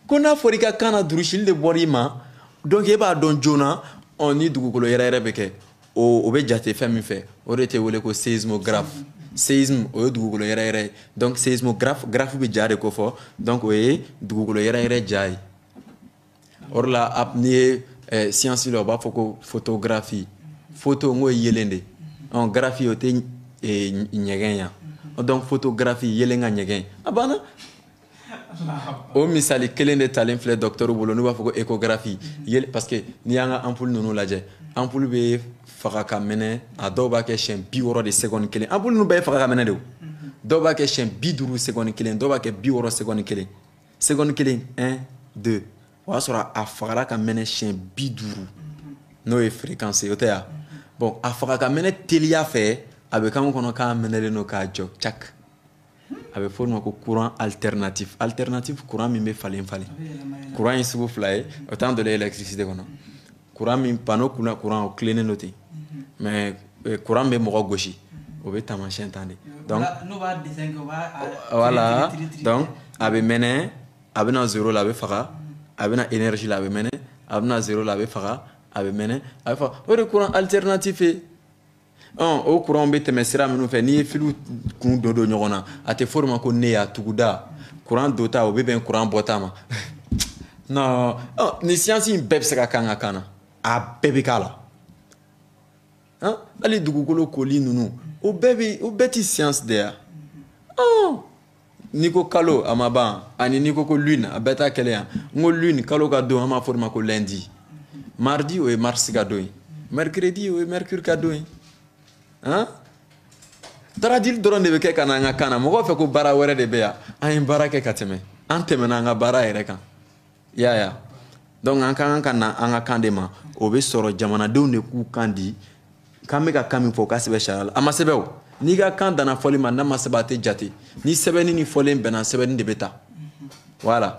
ko n'a fɔra i ka kan na durusili de bɔra i ma donc e b'a dɔn joona ɔ ni dugukolo yɛrɛyɛrɛ bɛ kɛ o bɛ jate fɛn min fɛ o de tɛ wele ko séismographe séisme o ye dugukolo yɛrɛyɛrɛ ye donc séismographe graphe bɛ ja de kofɔ donc o ye dugukolo yɛrɛyɛrɛ ja ye o de la a- n'i ye eh, siyansi la u b'a fɔ ko photographie photo n k'o ye yelen de ye. Ɔn, graphie o tɛ eh, ɲ- ɲɛgɛn ya donc photographie yelen ka ɲɛgɛn a banna o misali kelen de talen filɛ docteurw bolo n'u b'a fɔ ko échographie yel parce que n'i y'an ka ampoule ninnu lajɛ ampoule bɛ faga ka mɛnɛ a dɔw b'a kɛ siɲɛ bi wɔɔrɔ de seconde kelen ampoule ninnu bɛɛ ye faga ka mɛnɛ de o dɔw b'a kɛ siɲɛ bi duuru seconde kelen dɔw b'a kɛ bi wɔɔrɔ seconde kelen seconde kelen un deux o y'a sɔrɔ a fagara ka mɛnɛ siɲɛ bi duuru n'o ye fréquence ye o tɛ ya bon a faga ka mɛnɛ teliya fɛ a bɛ k'an kɔnɔ k'a mɛnɛlen don k'a jɔ cak a bɛ fɔ o ma ko courant alternatif alternatif courant min bɛ falen falen courant ye sugu fila ye o tan dɔ la électricité kɔnɔ courant min panneau kunna courant o tilennen don ten mais courant min bɛ mɔgɔ gosi o bɛ taamasiyɛn tan de donc voilà donc a bɛ mɛnɛ a bɛ na zéro la a bɛ faga a bɛ na énergie la a bɛ mɛnɛ a bɛ na zéro la a bɛ faga a bɛ mɛnɛ a bɛ faga o de courant alternatif ye o kuranw bɛ tɛmɛ sira minnu fɛ n'i ye filiw kun don don ɲɔgɔn na a tɛ fɔ o de ma ko nœud ya tuguda kuran donta o bɛ bɛn kuran bɔta ma non nin siyansi in bɛɛ bɛ se ka k'an ka kan na a bɛɛ bɛ k'a la hali dugukolo koli ninnu o bɛɛ bɛ o bɛɛ tɛ siyansi de ya n'i ko kalo a ma ban ani n'i ko ko lune a bɛɛ ta kɛlɛ yan n ko lune kalo ka don an b'a fɔ o de ma ko lundi mardi o ye mars ka don ye mercredi o ye mercure ka don ye han taradili dɔrɔn de bɛ kɛ ka na an ka kan na mɔgɔw fɛ ko baara wɛrɛ de bɛ yan an ye baara kɛ ka tɛmɛ an tɛmɛna an ka baara yɛrɛ kan i y'a ye wa donc an ka kan ka na an ka kan de ma o bɛ sɔrɔ jamanadenw de k'u kan di k'an bɛ ka kan min fɔ o ka sɛbɛn sariya la a ma sɛbɛn o n'i ka kan danna fɔli ma n'a ma sɛbɛn a tɛ jate ni sɛbɛnni ni fɔlen bɛnna sɛbɛnni de bɛ ta voilà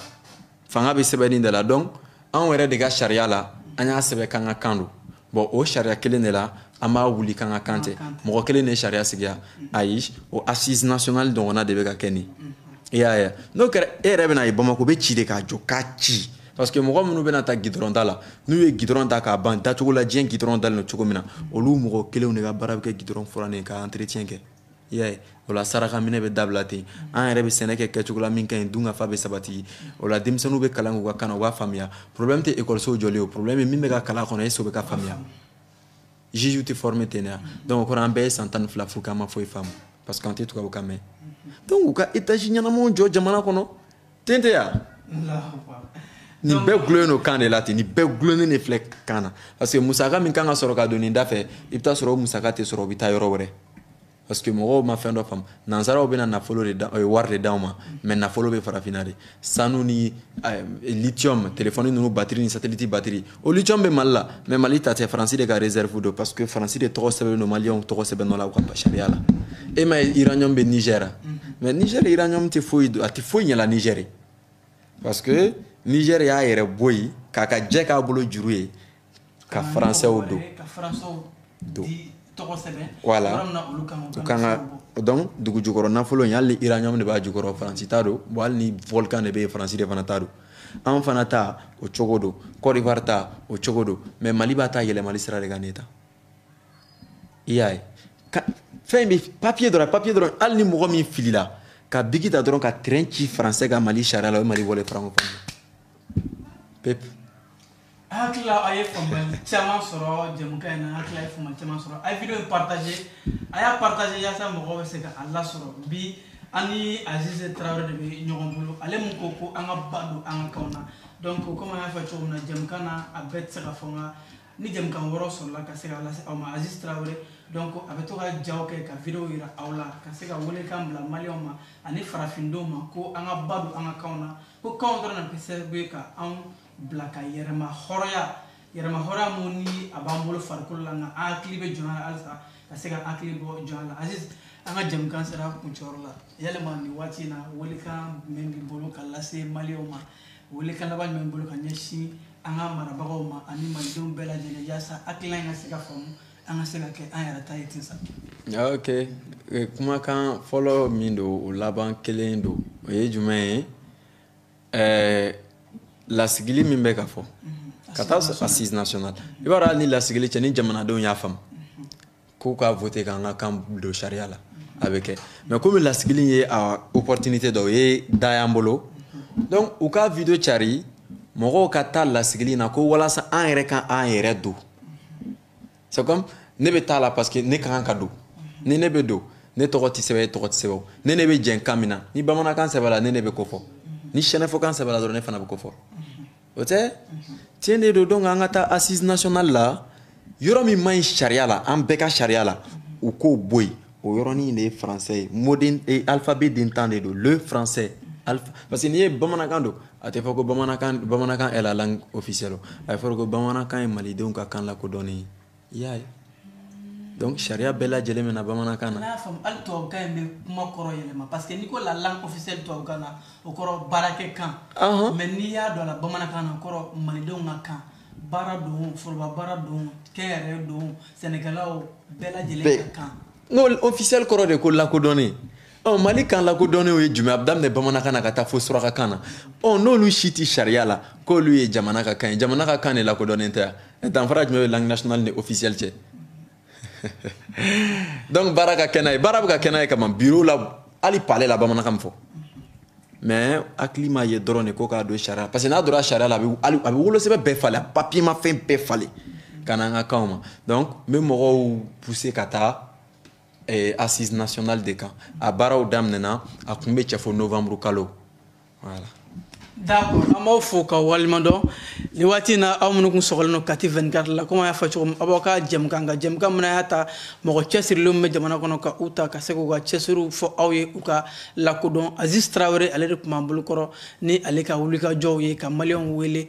fanga bɛ sɛbɛnni de la donc anw yɛrɛ de ka sariya la an y'a sɛbɛn k'an ka kan don bon o sariya kelen de la an b'a wuli k'an ka kan tɛ mɔgɔ kelen de sariya sigiya ayi o assise nationale ɲɔgɔnna de bɛ ka kɛ nin i y'a ye n'o kɛra e yɛrɛ bɛna a ye bamako bɛ ci de k'a jɔ k'a ci parce que mɔgɔ minnu bɛna taa gidɔrɔn da la n'u ye gidɔrɔn da k'a ban dacogo la diɲɛ gidɔrɔn dalen don cogo min na olu mɔgɔ kelenw de ka baara bɛ kɛ gidɔrɔn furanni k'a entretien kɛ y'a ye o la saraka minɛ bɛ dabila ten an yɛrɛ bɛ sɛnɛ kɛ kɛcogo la min ka ɲi dunkafa bɛ sabati o la denmisɛnninw bɛ kalan k'u ka kan na u b'a faamuya problème tɛ ekɔlisow jɔlen o problème ye min bɛ ka kalan kɔnɔ est-ce que o bɛ ka faamuya juge tɛ former ten ya donc o kɔrɔ an bɛɛ ye san tan ni fila fu k'an ma foyi faamu parce que an tɛ tubabukan mɛn donc u ka étage ɲɛnamaw jɔ jamana kɔnɔ ten tɛ ya nin bɛɛ gulonlen don kan de la ten nin bɛɛ gulonlen de filɛ kan na parce que musaka min kan ka sɔrɔ ka don nin da fɛ i bɛ taa sɔrɔ o musaka tɛ sɔrɔ o bɛ taa yɔrɔ wɛrɛ parce que mɔgɔw ma fɛn dɔ faamu nansaraw bɛna nafolo de wari de d'anw ma mais nafolo bɛ farafinna de sanu ni lithium telefɔni ninnu batiri ni sateliti batiri o lithium bɛ mali la mais mali ta tɛ faransi de ka réserve don parce que faransi de tɔgɔ sɛbɛnnen don maliyɛnw tɔgɔ sɛbɛn nɔ la u ka sariya la e m'a ye uranium bɛ nigɛra mais nigɛr uranium tɛ foyi a tɛ foyi ɲɛla nigɛr parce que nigɛr y'a yɛrɛ bɔ yen k'a ka jɛ k'a bolo juru ye ka faransɛw don don voilà u kan ka donc dugu jukɔrɔ nafolo in hali ni uranium de b'a jukɔrɔ faransi ta don bon hali ni volcan de bɛ yen faransi de fana ta don an fana ta o cogo don cote d'ivoire ta o cogo don mais mali b'a ta yɛlɛmali sira de kan ne ta i y'a ye fɛn bɛɛ papiye dɔrɔn papiye dɔrɔn hali ni mɔgɔ min filila ka biki ta dɔrɔn ka trait ci faransɛ kan mali sariya la o ye mali bɔlen francophonie pewu hakilila a ye faamuyali caman sɔrɔ jɛmukan in na hakilila a ye faamuyali caman sɔrɔ a ye video in partager a y'a partager yaasa mɔgɔw bɛ se ka a lasɔrɔ bi an ni azize tarawele de bɛ ɲɔgɔn bolo ale min ko ko an ka ba don an ka kanw na donc komi an y'a fɔ cogo min na jɛmukan na a bɛɛ tɛ se ka fɔ nka ni jɛmukan wɛrɛw sɔrɔla ka se ka lase aw ma azize tarawele donc a bɛ to ka jaw kɛ ka video jira aw la ka se ka welekan bila maliyɛnw ma ani farafindenw ma ko an ka ba don an ka kanw na ko kanw dɔrɔn na kɛ sababu ye ka anw bila ka yɛrɛma hɔrɔnya yɛrɛma hɔrɔnya mun ni a b'an bolo farikolo la nka an hakili bɛ jɔnya la halisa ka se ka hakili bɔ jɔnya la aziz an ka jɛmukan sera kuncɛyɔrɔ la yalima nin waati in na welekan jumɛn b'i bolo ka lase maliyɛnw ma welekan laban jumɛn b'i bolo ka ɲɛsin an ka marabagaw ma ani malidenw bɛɛ lajɛlen yaasa hakilila in ka se ka faamu an ka se ka kɛ an yɛrɛ ta ye ten sa ok eh, kumakan fɔlɔ min don o laban kelen don o ye jumɛn ye eh, lasigili min bɛ ka fɔ ka taa assise nationale i b'a dɔn hali ni lasigili cɛ ni jamanadenw y'a faamu k'u ka voter k'an ka kan don sariya la a bɛ kɛ mais komi lasigili ye a opportunité dɔ o ye da y'an bolo donc u ka vidéo cari mɔgɔw ka taa lasigili na ko walasa an yɛrɛ ka an yɛrɛ don c'est comme ne bɛ taa la parce que ne ka kan ka don ni ne bɛ don ne tɔgɔ tɛ sɛbɛn e tɔgɔ tɛ sɛbɛn ne ne bɛ jɛn kan min na ni bamanankan sɛbɛnna ne ne bɛ ko fɔ ni sɛnɛfɔkan sɛbɛnna dɔrɔn ne fana bɛ ko fɔ o tɛ tiɲɛ de don donc an ka taa assise nationale la yɔrɔ min man ɲi sariya la an bɛɛ ka sariya la u k'o bɔ yen o yɔrɔnin de ye français ye moden alphabet den tan de don le français alpha parce que n'i ye bamanankan don A tɛ fɔ ko bamanankan bamanankan est la langue officielle a ye fɔra ko bamanankan ye malidenw ka kan lakodɔnnen i y'a ye donc sariya bɛɛ lajɛlen bɛ na bamanankan na n'a y'a faamu hali tubabukan in bɛ kuma kɔrɔ yɛlɛma parce que n'i ko la langue officielle tubabukan na o kɔrɔ baarakɛkan mais n'i y'a dɔn la bamanankan na o kɔrɔ malidenw ka kan baara don foroba baara don kɛnyɛrɛye don sɛnɛkɛlaw bɛɛ lajɛlen ka kan n'o officiel kɔrɔ de ko lakodɔnnen ɔ mali kan lakodɔnnenw ye jumɛn a bɛ daminɛ bamanankan na ka taa fo surakakan na ɔ n'olu si tɛ sariya la k'olu ye jamana ka kan ye jamana ka kan de lakodɔnnen tɛ yan danfara jumɛn bɛ langue nationale ni officielle cɛ donc baara ka kɛ n'a ye baara bɛ ka kɛ n'a ye kaban biro la hali palais la bamanankan bɛ fɔ mais hakili ma ye dɔrɔn de ko k'a don sariya parce que n'a donna sariya la a bɛ a bɛ wolosɛbɛn bɛɛ falen a papiyemafɛn bɛɛ falen ka na an ka kanw ma donc n bɛ mɔgɔw pousser ka taa eh, assise nationale de kan a baaraw daminɛna a kun bɛ cɛ fo novembre kalo voilà d'accord an b'aw fo k'aw waleɲumandɔn nin waati na aw minnu kun sɔgɔlen don kati 24 la komi an y'a fɔ cogo min aw b'aw ka jɛmukan kan jɛmukan min y'a ta mɔgɔ cɛsirilen minnu bɛ jamana kɔnɔ ka u ta ka se k'u ka cɛsiriw fɔ aw ye u ka lakodɔn aziz tarawele ale de tun b'an bolokɔrɔ ni ale ka wulikajɔw ye ka maliyɛnw wele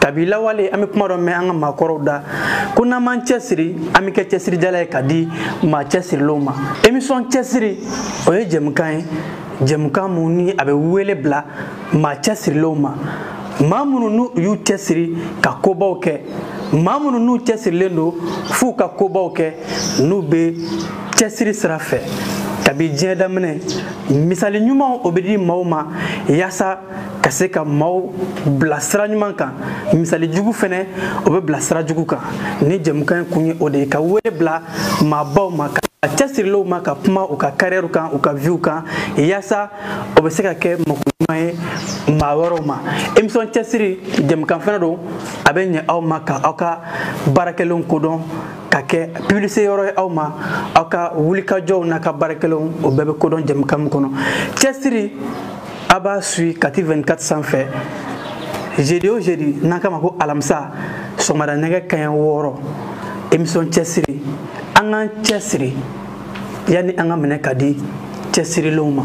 kabi lawale an bɛ kuma dɔ mɛn an ka maakɔrɔw da ko n'an m'an cɛsiri an bɛ kɛ cɛsirijala ye ka di maa cɛsirilenw ma émission cɛsiri o ye jɛmukan ye jɛmukan mun ni a bɛ wele bila maa cɛsirilenw ma maa minnu n'u y'u cɛsiri ka kobaw kɛ maa minnu n'u cɛsirilen don f'u ka kobaw kɛ n'u bɛ cɛsiri sira fɛ kabi diɲɛ daminɛ misali ɲumanw o bɛ di maaw ma yaasa ka se ka maaw bila sira ɲuman kan misali jugu fɛnɛ o bɛ bila sira jugu kan ni jɛmukan kun ye o de ye ka wele bila maabaw ma ka cɛsirilenw ma ka kuma u ka carrière kan u ka vie kan yaasa o bɛ se ka kɛ mako ɲuman ye maa wɛrɛw ma émission cɛsiri jɛmukan fɛnɛ don a bɛ ɲɛ aw ma ka aw ka baarakɛlenw kodɔn ka kɛ publicité yɔrɔ ye aw ma aw ka wulikajɔw n'a ka baarakɛlenw o bɛɛ bɛ kodɔn jɛmukan min kɔnɔ cɛsiri a b'a suivi Kati 24 sanfɛ jeudi o jeudi n'an k'a ma ko alamisa sɔgɔmada nɛgɛ kaɲɛ wɔɔrɔ émission cɛsiri an k'an cɛsiri yanni an ka minɛ ka di cɛsirilenw ma